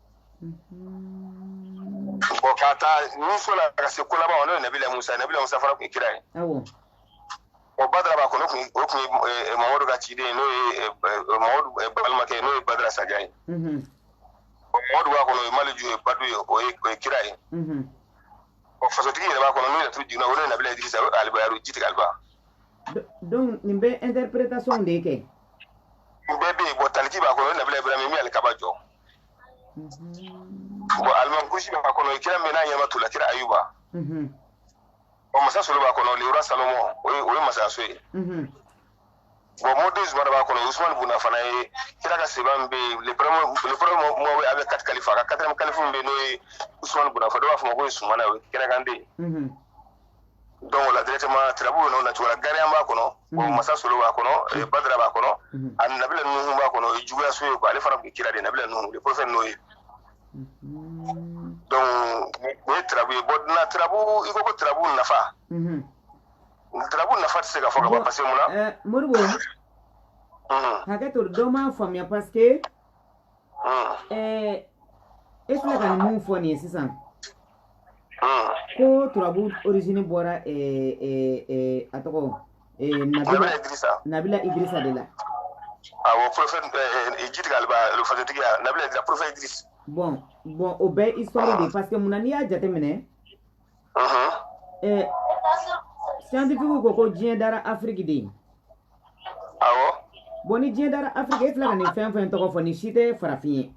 Mm-hmm. bon ka taa ni so la ka se k'o laban n'o ye nabila musa nabila musa fana tun ye kira ye o badara b'a kɔnɔ o tun ye mamadu ka ciden ye n'o ye mamadu balimakɛ ye n'o ye badara saja ye mamadu b'a kɔnɔ o ye maliju ye badu ye o ye kira ye ɔ fasotigi yɛrɛ b'a kɔnɔ n'o yɛrɛ tun jiginna o n'o ye nabila idrisa o ye alibayaru jitigi aliba donc nin bɛ interprétation de kɛ nin bɛɛ bɛ yen bon taliki b'a kɔnɔ o ye nabila ibrahima min ye alikaba jɔ bon alimankusi b'a kɔnɔ i kira min n'a ɲɛnama tolila kira ayuba ɔ masa solo b'a kɔnɔ le roi Salomon o ye o ye masayaso ye bon mori zumana b'a kɔnɔ usumani bun afana ye kira ka sahaba min bɛ yen le premier le premier mɔgɔ a bɛ quatre kalifa a ka quatrième kalifa min bɛ yen n'o ye usumani bun afan dɔw b'a fɔ ma ko usumana o ye kira ka den ye donc là directement tirabu bɛ n'o na cogoya gariyan b'a kɔnɔ bon mhm. masa solo b'a kɔnɔ eh, mhm. badara b'a kɔnɔ mhm. ani nabila nuhu b'a kɔnɔ o ye juguya so ye quoi ale fana tun kira de nabila nuhu le prophète Noé donc o ye tirabu ye bon na tirabu i ko ko tirabu nafa tirabu nafa tɛ se ka fɔ ka ban parce que mun na eh, moribo hakɛ to dɔ m'a faamuya parce que Ɛɛ e filɛ ka nin min fɔ nin ye sisan ko turabu origine bɔra a tɔgɔ nabila idrisa de la bon bon o bɛ histoire de parce que mun na n'i y'a jateminɛ ɛ siyantifikiw ko ko diɲɛ dara afiriki de ye awɔ bon ni diɲɛ dara afiriki e filɛ ka nin fɛn fɛn tɔgɔ fɔ nin si tɛ farafin ye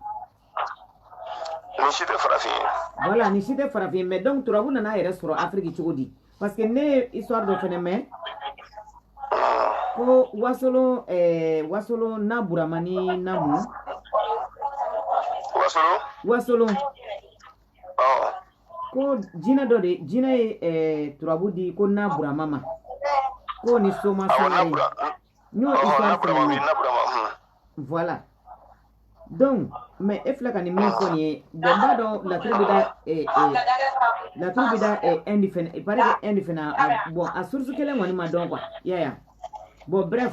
nin si tɛ farafin ye voilà nin si tɛ farafin ye mais donc turabu nana a yɛrɛ sɔrɔ afiriki cogo di parce que ne ye histoire dɔ fɛnɛ mɛn ko wasolon eh, wasolon na burama ni namu wasolon wasolon ko jinɛ dɔ de jinɛ ye eh, turabu di ko na burama ma ko ni soma soma ye n y'o histoire fana ye voilà donc mais e filɛ ka nin min fɔ nin ye bon n b'a dɔn laturu bɛ da eh, eh, laturu bɛ da Inde fɛnɛ paraît que Inde fɛnɛ bon a source kelen kɔni ma dɔn quoi y'a ye bon bref.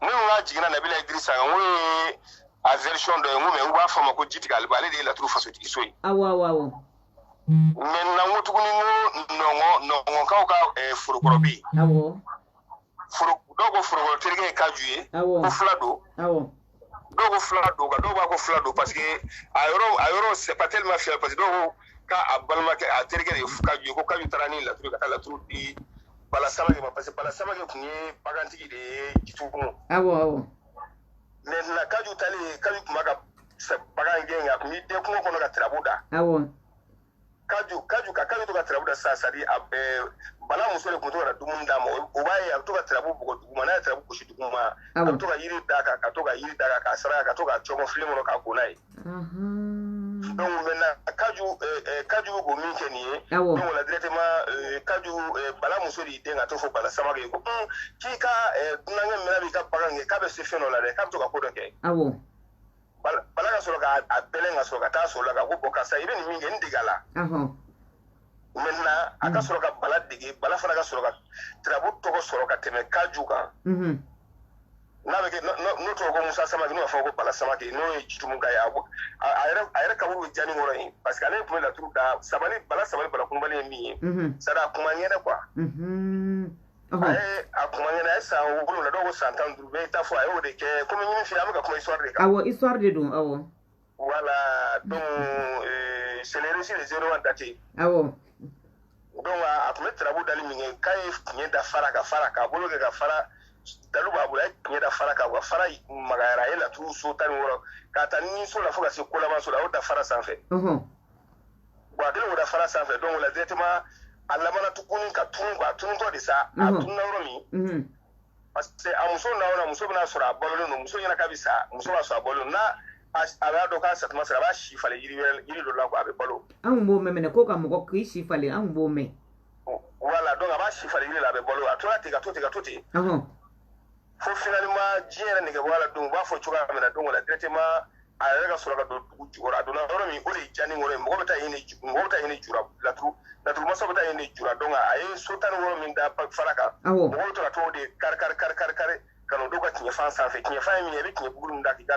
minnu ka jiginna nabila idirisa kan n'o ye a version dɔ ye n ko mɛ u b'a fɔ a ma ko jitigi aliba ale de ye laturu fasotigi so ye awɔ awɔ awɔ maintenant ko tuguni n ko nɔngɔ nɔngɔnkaw ka eh, forokɔrɔ bɛ yen awɔ foro dɔw ko forokɔrɔ terikɛ ye kaju ye awɔ ko fila don awɔ dɔw ko fila don ka dɔw b'a ko fila don parce que a yɔrɔ a yɔrɔ c'est pas tellement fiable parce que dɔw ko k'a a balimakɛ a terikɛ ye kaju ye ko kaju taara ni laturu ka taa laturu di bala samake ma parce que bala samake tun ye bagantigi de ye jitu kun awɔ awɔ maintenant kaju taalen kaju tun b'a ka bagan gɛn a tun b'i dɛn kungo kɔnɔ ka tirabu da awɔ kaju kaju ka kaju to ka tirabu da sa c'est à dire bala muso de kun to ka dumuni d'a ma o b'a ye a bɛ to ka tirabu bugɔ duguma n'a ye tirabu gosi duguma a bɛ to ka yiri d'a kan ka to ka yiri d'a kan k'a saraka ka to ka cɔmɔ filen kɔnɔ k'a ko n'a ye donc maintenant kaju kaju bɛ ko min kɛ nin ye donc o la directement kaju bala muso de y'i dɛn ka t'o fɔ bala samake ye ko k'i ka dunankɛ min b'i ka bagan gɛn k'a bɛ se fɛn dɔ la dɛ k'a bɛ to ka ko dɔ kɛ bala ka sɔrɔ k'a bɛlɛn ka sɔrɔ ka t'a sɔrɔ a kan ko bon karisa i bɛ nin min kɛ n dege a la maintenant a ka sɔrɔ ka bala dege bala fana ka sɔrɔ ka tirabu tɔgɔ sɔrɔ ka tɛmɛ kaju kan n'a bɛ kɛ n'o tɔgɔ ko musa samake n'o b'a fɔ ko bala samake n'o ye jitumuka ye a yɛrɛ kaburu bɛ janikɔrɔ yen parce que ale tun bɛ laturu da sabali bala sabali bala tununbali ye min ye sara kuma ɲɛnɛ quoi a ye a kuma ɲɛna a ye san wolonwula dɔw ko san tan ni duuru bɛɛ y'i ta fɔ a y'o de kɛ komi n ye min f'i ye an bɛ ka kuma histoire de kan awɔ histoire de don awɔ voilà donc euh, c'est le récit des événements datés awɔ donc a tun bɛ tarabu dali min kɛ k'a ye tiɲɛ da fara kan fara k'a bolo kɛ ka fara dalu b'a bolo a ye tiɲɛ da fara kan wa fara magayara a ye laturu so tan ni wɔɔrɔ k'a ta ni so la fo ka se kolaban so la a y'o da fara sanfɛ bon a kɛlen k'o da fara sanfɛ donc o la directement a labanna tuguni ka tunu a tunutɔ de sa a tununa yɔrɔ min parce que a muso na yɔrɔ muso bɛ n'a sɔrɔ a balolen don muso ɲɛna k'a bɛ sa muso b'a sɔrɔ a balolen n'a a b'a dɔn k'a satuma sera a b'a si falen yiri wɛrɛ yiri dɔ la quoi a bɛ balo. an kun b'o mɛn mɛnɛ ko ka mɔgɔ k'i si falen an kun b'o mɛn. voilà donc a b'a si falen yiri la a bɛ balo a tora ten ka to ten ka to ten. fo finalement diɲɛ yɛrɛ nege bɔ a la donc u b'a fɔ cogoya min na donc o la directement a yɛrɛ ka sɔrɔ ka don dugu jukɔrɔ a donna yɔrɔ min o de ye janikɔrɔ ye mɔgɔ bɛ taa yen de mɔgɔ bɛ taa yen de jura laturu laturu masa bɛ taa yen de jura donc a ye so tan ni wɔɔrɔ min da fara kan mɔgɔ bɛ to ka t'o de kari kari kari kari kari ka n'o d'u ka tiɲɛfan sanfɛ tiɲɛfan ye min ye i bɛ tiɲɛ buguri min da k'i ka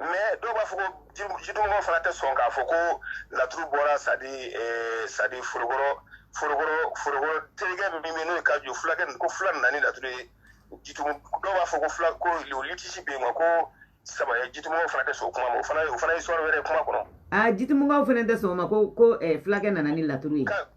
mais dɔw b'a fɔ ko jitumɔgɔw fana tɛ sɔn k'a fɔ ko laturu bɔra c'est à dire eh, c'est à dire forokɔrɔ forokɔrɔ forokɔrɔ terikɛ min bɛ n'o ye kaju fulakɛ ko fula nana ni laturu ye jitumu dɔw b'a fɔ ko fula ko litige bɛ yen nɔ ko saba ye jitumɔgɔw fana tɛ sɔn o kuma ma o fana o fana ye histoire wɛrɛ ye kuma kɔnɔ. aa jitumɔgɔw fana tɛ sɔn o ma ko ko eh, fulakɛ nana ni laturu ye.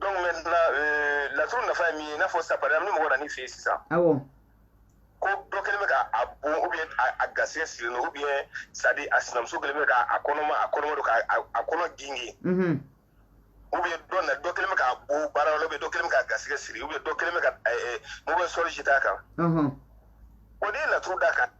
donc maintenant euh, laturu nafa ye min ye i n'a fɔ sa par exemple ni mɔgɔ nana i fɛ yen sisan awɔ ko dɔ kɛlen bɛ ka a bon ou bien a garisɛgɛ sirilen don ou bien c'est à dire a sinamuso kɛlen bɛ ka a kɔnɔma a kɔnɔma don ka a kɔnɔ genge mhm. ou bien dɔ na dɔ kɛlen bɛ ka a bon baarayɔrɔ ou bien dɔ kɛlen bɛ ka a garisɛgɛ siri ou bien dɔ kɛlen bɛ ka mɔgɔ sort jeter a kan o de ye laturu d'a kan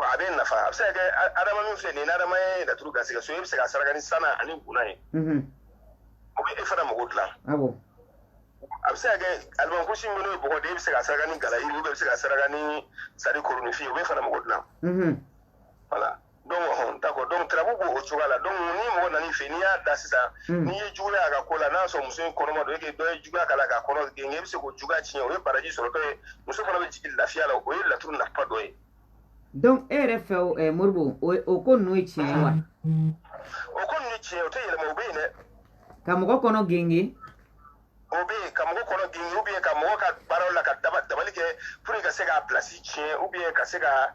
a bɛ nafa a bɛ se ka kɛ adama min filɛ nin ye ni adama ye laturu garisɛgɛ so e bɛ se ka saraka ni sana ani guna ye o bɛ e fana mago dilan a bɛ se ka kɛ alimankusi min n'o ye bɔgɔ de e bɛ se ka saraka ni gala yiri bɛ se ka saraka ni c'est à dire koroninfin o bɛ fana mago dilan voilà donc d'accord donc tarabu b'o cogoya la donc ni mɔgɔ nana i fɛ n'i y'a da sisan hmm. n'i ye juguya a ka ko la n'a sɔrɔ muso in kɔnɔma don et que dɔ ye juguya k'a la k'a kɔnɔ genge i bɛ se k'o juguya tiɲɛ o ye baraji sɔrɔ dɔ ye muso fana bɛ jigin lafiya la o ye laturu nafa dɔ ye donc e yɛrɛ fɛ o eh, moribo o ko ninnu ye tiɲɛ ye wa o ko ninnu ye tiɲɛ o tɛ yɛlɛma o bɛ yen dɛ ka mɔgɔ kɔnɔ genge o bɛ yen ka mɔgɔ kɔnɔ genge ou bien ka mɔgɔ ka baaraw la ka dabali kɛ pour que ka se k'a place tiɲɛ ou bien ka se ka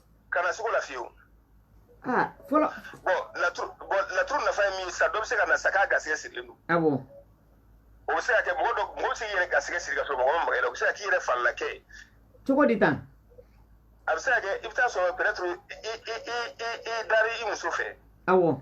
kana siga o la fiyewu ah, fɔlɔ bɔn laturu bɔn laturu nafa ye min ye sisan dɔ bɛ se ka na sa k'a garisɛgɛ sirilen don awɔ o bɛ se ka kɛ mɔgɔ dɔ mɔgɔ bɛ se k'i yɛrɛ garisɛgɛ siri ka sɔrɔ mɔgɔ ma maga i la o bɛ se ka k'i yɛrɛ falila kɛ ye cogo di tan a bɛ se ka kɛ i bɛ taa sɔrɔ peut-être i i i i i dari i muso fɛ awɔ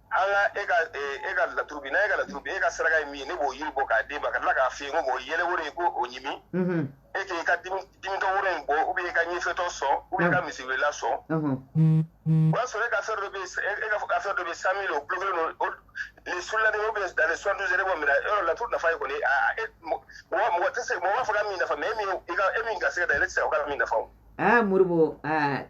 an ka e ka e ka laturu bi n'a ye ka laturu bi e ka saraka ye min ye ne b'o yiri bɔ k'a d'e ma ka tila k'a f'i ye ko mɔgɔ yɛlɛ woro ye ko o ɲimi e k'i ka dimitɔ woro in bɔ ou bien i ka ɲɛfiyentɔ sɔn ou bien i ka misiriwelela sɔn o y'a sɔrɔ e ka affaire dɔ bɛ e ka affaire dɔ bɛ cent mille o kulo kelen don résultat de ou bien dans les soixante-douze heures b'o minɛ yɔrɔ laturu nafa ye kɔni e mɔgɔ mɔgɔ tɛ se mɔgɔ b'a fɔ ka min nafa mais e min i ka e min garisɛgɛ da e tɛ se ka min nafa o. aa moribo aa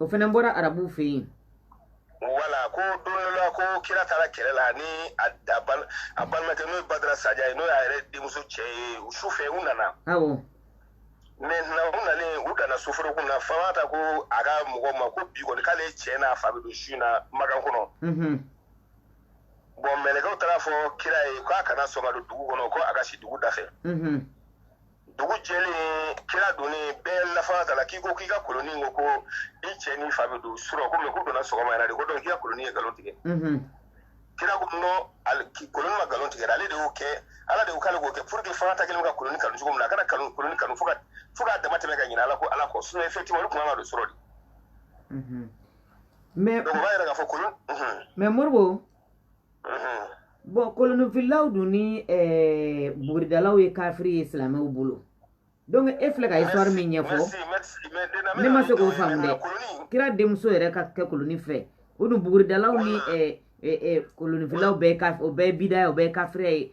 o fana bɔra arabuw fɛ yen voilà ko don dɔ la ko kira taara kɛlɛ la ni a a bal- a balimakɛ n'o ye badara saja ye n'o y'a yɛrɛ denmuso cɛ ye u su fɛ u nana awɔ maintenant u nalen u danna soforokun na fatumata ko a ka mɔgɔw ma ko bi kɔni k'ale cɛ n'a fa bɛ don su in na makan kɔnɔ mhm bɔn mɛlɛkɛw taara a fɔ kira ye k'a kana sɔn ka don dugu kɔnɔ ko a ka si dugu da fɛ mhm dugu jɛlen kira donnen bɛɛ la fatumata la k'i ko k'i ka koloni ko ko i cɛ n'i fa bɛ don surɔ ko mais k'u donna sɔgɔma yɛrɛ de ko donc i ka koloni ye nkalon tigɛ kira ko non koloni ma nkalon tigɛ ale de y'o kɛ ala de y'o k'ale k'o kɛ pour que fatumata kɛlen ka koloni kanu cogo min na a kana kanu koloni kanu fo ka fo k'a dama tɛmɛ ka ɲinɛ ala ko ala kɔ sinon effectivement olu tun kan ka don surɔ de mais donc o b'a yira k'a fɔ kolon mais moribo bon kolonifilaw dun ni eh, buguridalaw ye kafiri ye silamɛw bolo donc e filɛ ka histoire min ɲɛfɔ ne ma se k'o faamu dɛ kira denmuso yɛrɛ ka kɛ koloni fɛ o dun buguridalaw ni kolonifilaw bɛɛ o bɛɛ bidaya o bɛɛ kafiriya ye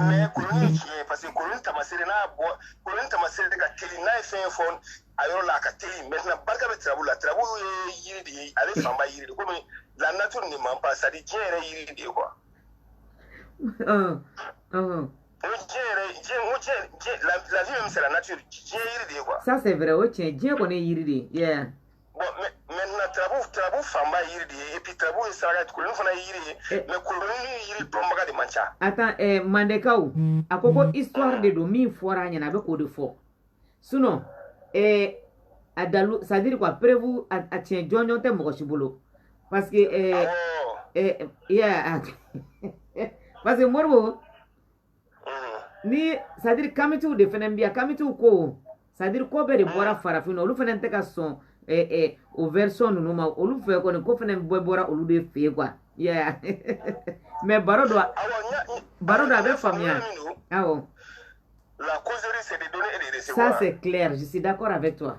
mais koloni ye tiɲɛ ye parce que koloni tamasere n'a bɔ koloni tamasere ka teli n'a ye fɛn fɔ a yɔrɔ la a ka teli maintenant barika bɛ turabu la turabu ye yiri de ye ale fanba yiri de comme la nature ne ment pas c'est à dire diɲɛ yɛrɛ yiri de ye quoi o diɲɛ yɛrɛ diɲɛ n ko diɲɛ diɲɛ la la vie même c'est la nature diɲɛ yiri de ye quoi ça c'est vrai o tiɲɛ diɲɛ kɔni ye yiri de ye yeah maintenant turabu turabu fanba ye yiri de ye et puis turabu ye saraka ye koloni fana ye yiri ye eh. mais koloni yiri dɔnbaga de man ca attends eh, mandekaw a ko ko histoire de don min fɔra a ɲɛna a bɛ k'o de fɔ sinon eh, a dalu c'est à dire quoi preuve a tiɲɛ jɔnjɔn tɛ mɔgɔ si bolo parce que eh, eh, yeah, parce que moribo ni c'est à dire kamitiw de fana bɛ yan kamitiw ko c'est à dire ko bɛɛ de bɔra farafinna olu fana tɛ ka sɔn o version ninnu ma olu fɛ kɔni ko fana bɛɛ bɔra olu de fɛ yen quoi yeah. mais baro don baro don a bɛ faamuya awɔ la causerie c'est de donner et de recevoir ça c'est clair je suis d'accord avec toi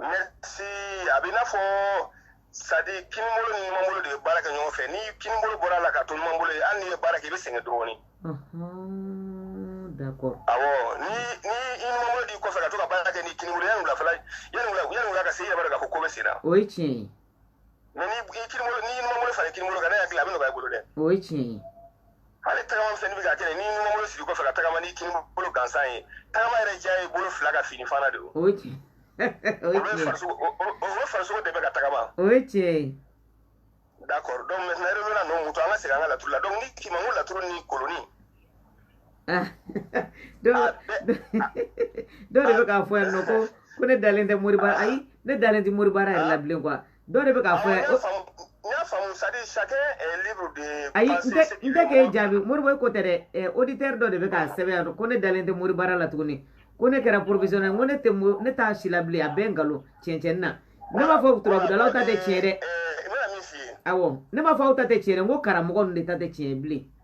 merci a bɛ i n'a fɔ c'est à dire kinibolo ni numanbolo de bɛ baara kɛ ɲɔgɔn fɛ ni kinibolo bɔra a la ka to numanbolo ye hali n'i ye baara kɛ i bɛ sɛgɛn dɔɔni d'accord awɔ ni ni i numanbolo d'i kɔfɛ ka to ka baara kɛ ni kinibolo yanni wulafɛla yanni wula yanni wula ka se i yɛrɛ b'a dɔn k'a fɔ ko bɛ sen na o ye tiɲɛ ye Mais ni kinibolo ni numanbolo fara kinibolo kan ne hakili la a bɛ nɔgɔya i bolo dɛ o ye tiɲɛ ye hali tagama fɛn bɛ ka kɛ ni numanbolo siri kɔfɛ ka tagama ni kinibolo gansan ye tagama yɛrɛ diya ye bolo fila ka finifana de o farisogo de bɛ ka tagama o ye tiɲɛ ye d'accord donc maintenant n bɛna ninnu mutu an ka segin an ka laturu la donc ni kima laturu ni kolonin Ah. dɔ ah, de bɛ k'a fɔ yan nɔ ko ko ne dalen tɛ moribaara ah. ayi ne dalen tɛ moribaara yɛrɛ la bilen quoi dɔ de bɛ k'a fɔ yan. n y'a faamu c'est à dire chacun est libre de. ayi n tɛ n tɛ k'e jaabi moribo ko tɛ dɛ eh, auditeur dɔ de bɛ k'a sɛbɛn yan nɔ ko ne dalen tɛ moribaara la tuguni ko ne kɛra professionnel ko ne tɛ ne t'a si la bilen a bɛɛ nkalon cɛncɛn na ne m'a fɔ turabudalaw ta tɛ tiɲɛ dɛ. awɔ ne m'a fɔ aw ta tɛ tiɲɛ dɛ n ko karamɔgɔ ninnu de ta tɛ tiɲɛ ye bilen.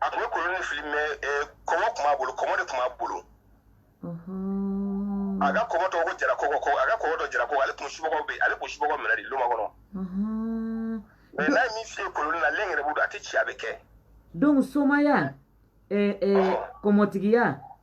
a tun bɛ koloni fili mais eh, kɔmɔ tun b'a bolo kɔmɔ de tun b'a bolo a ka kɔmɔ tɔgɔ ko jara kɔkɔ a ka kɔmɔ tɔgɔ jara kɔkɔ ale tun subagaw bɛ ale tun subagaw minɛ de loma kɔnɔ mais n'a ye min f'i ye koloni na ale yɛrɛ b'o dɔn a tɛ ci a bɛ kɛ donc somaya eh, eh, kɔmɔtigiya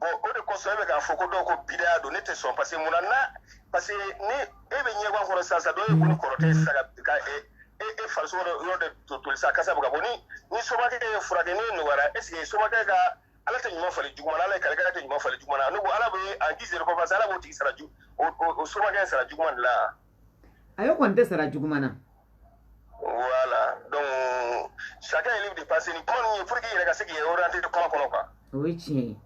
bɔn o de kosɔn e bɛ k'a fɔ ko dɔw ko bidaya don ne tɛ sɔn parce que munna na parce que ni e bɛ ɲɛguwan kɔrɔ sisan sisan dɔ ye e bon kɔrɔtɛ sisan ka ka e e e farisogo dɔ yɔrɔ dɔ to toli sisan kasa bɛ ka bɔ ni ni somakɛ y'e furakɛ n'e nɔgɔyara est ce que somakɛ ka ala tɛ ɲuman falen juguman na ala ye kalikɛla tɛ ɲuman falen juguman na ne ko ala bɛ en guise de reconnaissance ala b'o tigi sara ju o o o somakɛ sara juguman de la ayi o kɔni tɛ sara juguman na voilà donc chacun est libre de penser ni kuma ninnu ye pour que i yɛrɛ ka se k'i yɛrɛ orienter kuma kɔnɔ quoi o ye tiɲɛ ye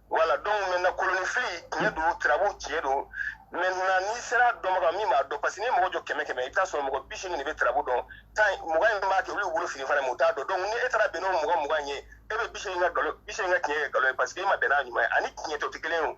voilà donc maintenant kolonifili tiɲɛ don turabu tiɲɛ don maintenant n'i sera dɔnbaga min b'a dɔn parce que n'i ye mɔgɔ jɔ kɛmɛ kɛmɛ i bɛ taa sɔrɔ mɔgɔ bi seegin de bɛ turabu dɔn tan mugan in b'a kɛ olu wolo fini fana ma u t'a dɔn donc ni e taara bɛn n'o mɔgɔ mugan ye e bɛ bi seegin ka nkalon bi seegin ka tiɲɛ kɛ nkalon ye parce que e ma bɛn n'a ɲuman ye ani tiɲɛ tɛ o tɛ kelen ye o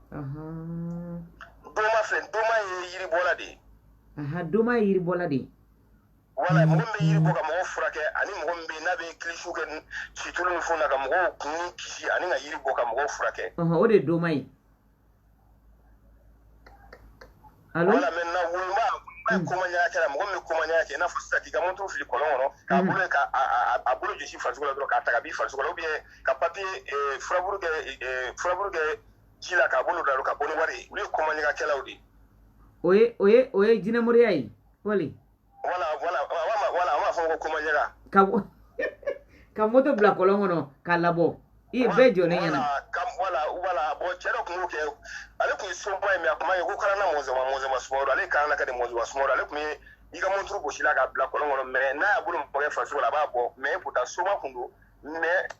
doma filɛ doma ye yiribɔla de ye doma ye yiribɔla de ye voilà mɔgɔ min bɛ yiri bɔ ka mɔgɔw furakɛ ani mɔgɔ min bɛ yen n'a bɛ kilisi kɛ situlu ni fɛnw na ka mɔgɔw kun kisi ani ka yiri bɔ ka mɔgɔw furakɛ o de ye doma ye Alo? Voilà maintenant woloba woloba ye mm. koma ɲaga kɛla mɔgɔ min bɛ koma ɲaga kɛ i n'a fɔ sisan k'i ka monturu fili kɔlɔn kɔnɔ k'a mm. bolo ka a bolo jɔsi farisogo la dɔrɔn k'a ta ka b'i farisogo la ou bien ka papier eh, furaburu kɛ eh, furaburu kɛ ji la k'a bolo da ka bɔ ni wari ye olu ye koma ɲaga kɛlaw de ye o ye o ye o ye jinɛmoriya ye wali wala wala wala wala a b'a fɔ ko koma ɲaga ka ka monturu bila kɔlɔn kɔnɔ k'a labɔ i ye bɛɛ jɔlen ɲɛna ka wala wala bɔn cɛ dɔ tun b'o kɛ ale tun ye soma ye mais a kuma ye ko kalanna mɔzɔma mɔzɔma sumaworo ale kalanna ka di mɔzɔma sumaworo ale tun ye i ka monturu gosila k'a bila kɔlɔn kɔnɔ mais n'a y'a bolo maga i farisogo la a b'a bɔ mais pourtant soma tun don mais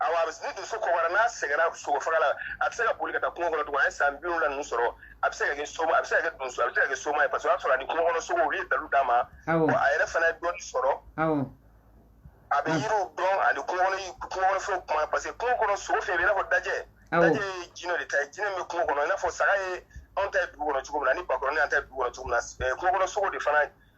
awa a bɛ ni donso kɔgɔra n'a sɛgɛnna sogo faga la a tɛ se ka boli ka taa kungo kɔnɔ tugun a ye san bi wolonwula ninnu sɔrɔ a bɛ se ka kɛ soma a bɛ se ka kɛ donso a bɛ se ka kɛ soma ye parce que o y'a sɔrɔ a ni kungo kɔnɔ sogo olu ye dalu d'a ma Awɔ. a yɛrɛ fana ye dɔɔni sɔrɔ awɔ a bɛ yiriw dɔn ani kungo kɔnɔ yi- kungo kɔnɔ fɛnw kuma parce que kungo kɔnɔ sogo fɛn bɛ i n'a fɔ dajɛ Awɔ. dajɛ ye jinɛ de ta ye jinɛ min bɛ kungo kɔnɔ i n'a fɔ saga ye anw ta ye dugu kɔnɔ cogo min na ani bakɔrɔni an ta ye dugu kɔnɔ cogo min na eh, kungo kɔnɔ sogo de fana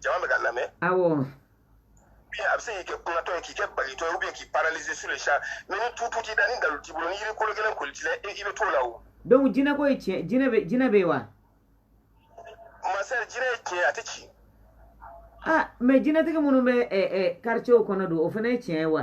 jama bɛ ka lamɛn awɔ a bɛ se k'i kɛ kunnatɔ ye k'i kɛ bagitɔ ye ou bien k'i paralyser sur le champ mais ni tutu t'i da ni dalu t'i bolo ni yiri kolo gɛlɛn kolen t'i la i bɛ to o la o. donc jinɛ ko ye tiɲɛ jinɛ bɛ jinɛ bɛ yen wa. mon cher jinɛ ye tiɲɛ a tɛ ci. ah mais jinɛtigi minnu bɛ ɛ ɛ quartier kɔnɔ don o fana ye tiɲɛ ye wa.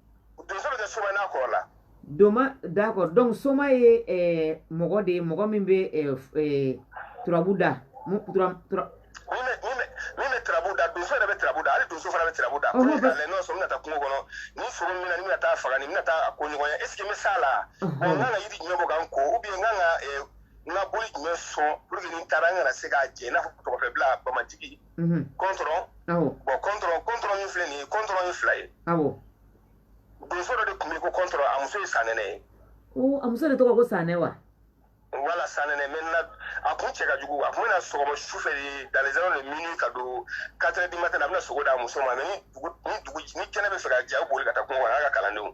donso bɛ kɛ soma ye n'a kɔrɔla doma d'accord donc soma ye eh, mɔgɔ de ye mɔgɔ min bɛ eh, eh, turabu da min bɛ turabu da donso yɛrɛ bɛ turabu da hali donso fana bɛ turabu da ko ne k'a lajɛ n'o sɔrɔ n bɛna taa kungo kɔnɔ ni sogo min na ni n bɛna taa faga ni n bɛna taa a ko ɲɔgɔn ye est ce que n bɛ s'a la n kan ka yiri jumɛn bɔ ka n ko ou bien n kan ka n ka boli jumɛn sɔn pour que ni n taara n kana se k'a jɛ i n'a fɔ tɔgɔfɛbila bamajigi kɔntɔrɔn bon kɔntɔrɔn kɔntɔrɔn min filɛ nin ye kɔntɔrɔn ye fila ye donso dɔ de tun bɛ ko kɔntɔrɔn a muso ye sanɛnɛ ye a muso de tɔgɔ ko sanɛ wa voilà sanɛnɛ maintenant a kun cɛ ka jugu a kun bɛ na so kɔnɔ su fɛ de dans les heures de minuit ka don quatre heures du matin a bɛna sogo d'a muso ma mais ni dugu ni dugu ni kɛnɛ bɛ fɛ ka jɛ a bɛ boli ka taa kungo kɔnɔ a ka kalandenw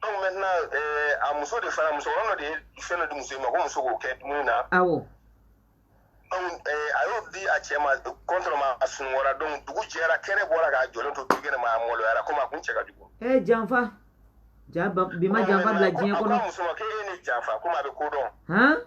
donc maintenant eh, a muso de fana musokɔrɔba dɔ de ye fɛn dɔ di muso in ma ko muso k'o kɛ dumuni na awɔ donc eh, a y'o di a cɛ ma kɔntɔrɔn ma a sunɔgɔra donc dugu jɛra kɛnɛ bɔra k'a jɔlen to dukɛnɛ ma a maloyara komi a kun cɛ ka jugu e eh, janfa ja bi ma janfa bila diɲɛ kɔnɔ a ko muso ma k'e ye ne janfa komi a bɛ ko dɔn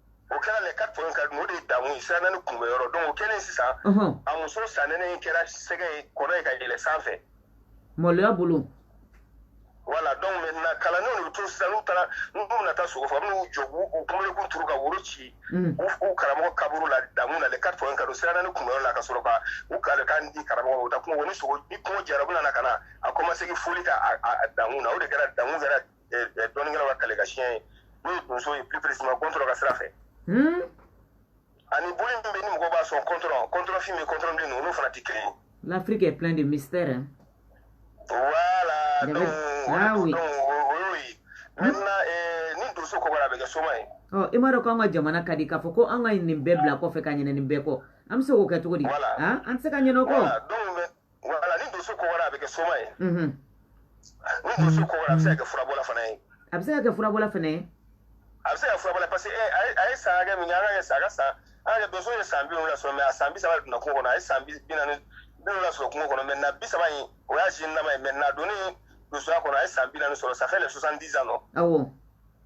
o kɛra les quatre points cardinaux de ye dankun ye sira naani kunbɛn yɔrɔ donc o kɛlen sisan a muso sanɛnɛ in kɛra sɛgɛ ye kɔnɔ ye ka yɛlɛ sanfɛ maloya bolo voilà donc maintenant kalandenw de bɛ to sisan n'u taara n'u bɛna taa sogo faga n'u jɔ k'u kunbelekun turu ka woro ci u karamɔgɔ kaburu la dankun na les quatre points cardinaux sira naani kunbɛn yɔrɔ la ka sɔrɔ ka u kalikan di karamɔgɔ ma u taa kungo ni sogo ni kungo diyara u bɛna na ka na a kɔmasegin foli kɛ a dankun na o de kɛra dankun kɛra dɔnnikɛlaw ka kale ka siɲɛ ye n'o ye donso ye plus précisément kɔntɔrɔ ka sira fɛ hmm? ani boli min bɛ ni mɔgɔw b'a sɔn kɔntɔrɔ kɔntɔrɔ fin bɛ kɔntɔrɔ bilennin olu fana tɛ kelen ye l'Afrique est plein de mystères hein? voilà donc ah, oui. donc o y'o ye maintenant eh, ni donso kɔgɔra a bɛ kɛ soma ye ɔ i m'a dɔn k'an ka jamana ka di k'a fɔ ko an ka nin bɛɛ bila kɔfɛ ka ɲinɛ nin bɛɛ kɔ an bɛ se k'o kɛ cogo di an tɛ se ka ɲinɛ o kɔ Voilà ni donso kɔgɔra a bɛ kɛ soma ye donso kɔgɔra a bɛ se ka kɛ furabɔla fana ye a bɛ se ka kɛ furabɔla fana ye a bɛ se ka fura parce que a ye san min ala ye sa sa ala donso ye san bi wolonfila sɔrɔ mais a san bi saba donna kungo kɔnɔ a ye san bi naani bi la sɔrɔ kungo kɔnɔ maintenant bi saba in o y'a si nama ye maintenant don donsoya kɔnɔ a ye san bi naani sɔrɔ ça fait les soixante-dix non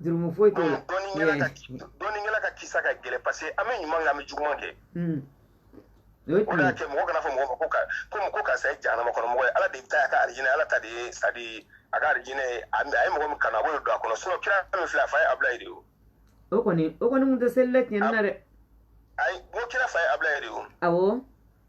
jurumu foyi t'o la dɔnnikɛla ka kisa ka gɛlɛn parce que an bɛ ɲuman kɛ an bɛ juguman kɛ o de y'a kɛ mɔgɔ kana fɔ mɔgɔ ma ko ka komi ko karisa ye jahanama kɔnɔ mɔgɔ ye ala de ta a ka arijinɛ ala ta de ye c'est-à-dire a ka arijinɛ ye a ye mɔgɔ min kanu a b'o de don a kɔnɔ sinon kira min filɛ a fa ye abulayi de ye o o kɔni o kɔni kun tɛ seli la tiɲɛni na dɛ ayi n ko kira fa ye abulayi de ye o awɔ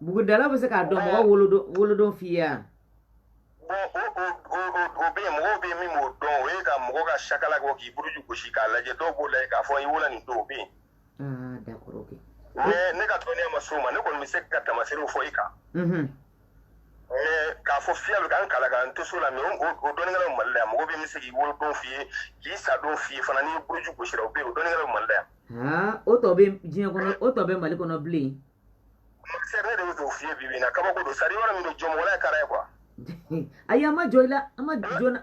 Buguridala bɛ se k'a dɔn mɔgɔ wolodon wolodon f'i ye wa? o o o o bɛ yen mɔgɔw bɛ yen min b'o dɔn o ye ka mɔgɔ ka sakala kɔ k'i buruju gosi k'a lajɛ dɔw b'o lajɛ k'a fɔ i wolola nin don o bɛ yen Ah, d'accord, ok. mais ne ka dɔnniya ma s'o ma ne kɔni bɛ se ka tamaserew fɔ i kan Mhm. k'a fɔ fiyɛ b'i kankala kan to so la mais o dɔnnikɛlaw mali la yan mɔgɔ bɛ min se k'i wolodon f'i ye k'i sadon f'i ye fana n'i buruju gosira o bɛ yen o dɔnnikɛlaw mali la yan o tɔ bɛ diɲɛ kɔnɔ o tɔ bɛ mali kɔnɔ bilen c'est ne de bɛ k'o f'i ye bi bi in na kabako don sari yɔrɔ min don jɔmɔgɔla ye kara ye quoi ayi an ma jɔ i la an ma jɔ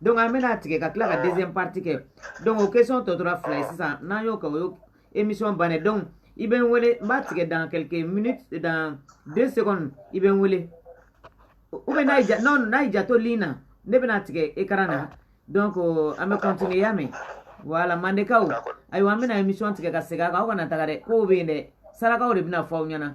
donc an bɛna tigɛ ka tila ka deuxième partie kɛ donc o question tɔ tora fila ye sisan n'an y'o kɛ o y'o émission bannen donc i bɛ n wele n b'a tigɛ dans quelques minutes dans deux secondes i bɛ n wele ou bien n'a y'i ja non n'a y'i ja to ligne na ne bɛna tigɛ écran na donc an bɛ continuer y'a mɛn voilà mandekaw ayiwa an bɛna émission tigɛ ka segin a kan aw kana taga dɛ kow bɛ yen dɛ sarakaw de bɛna fɔ aw ɲɛna.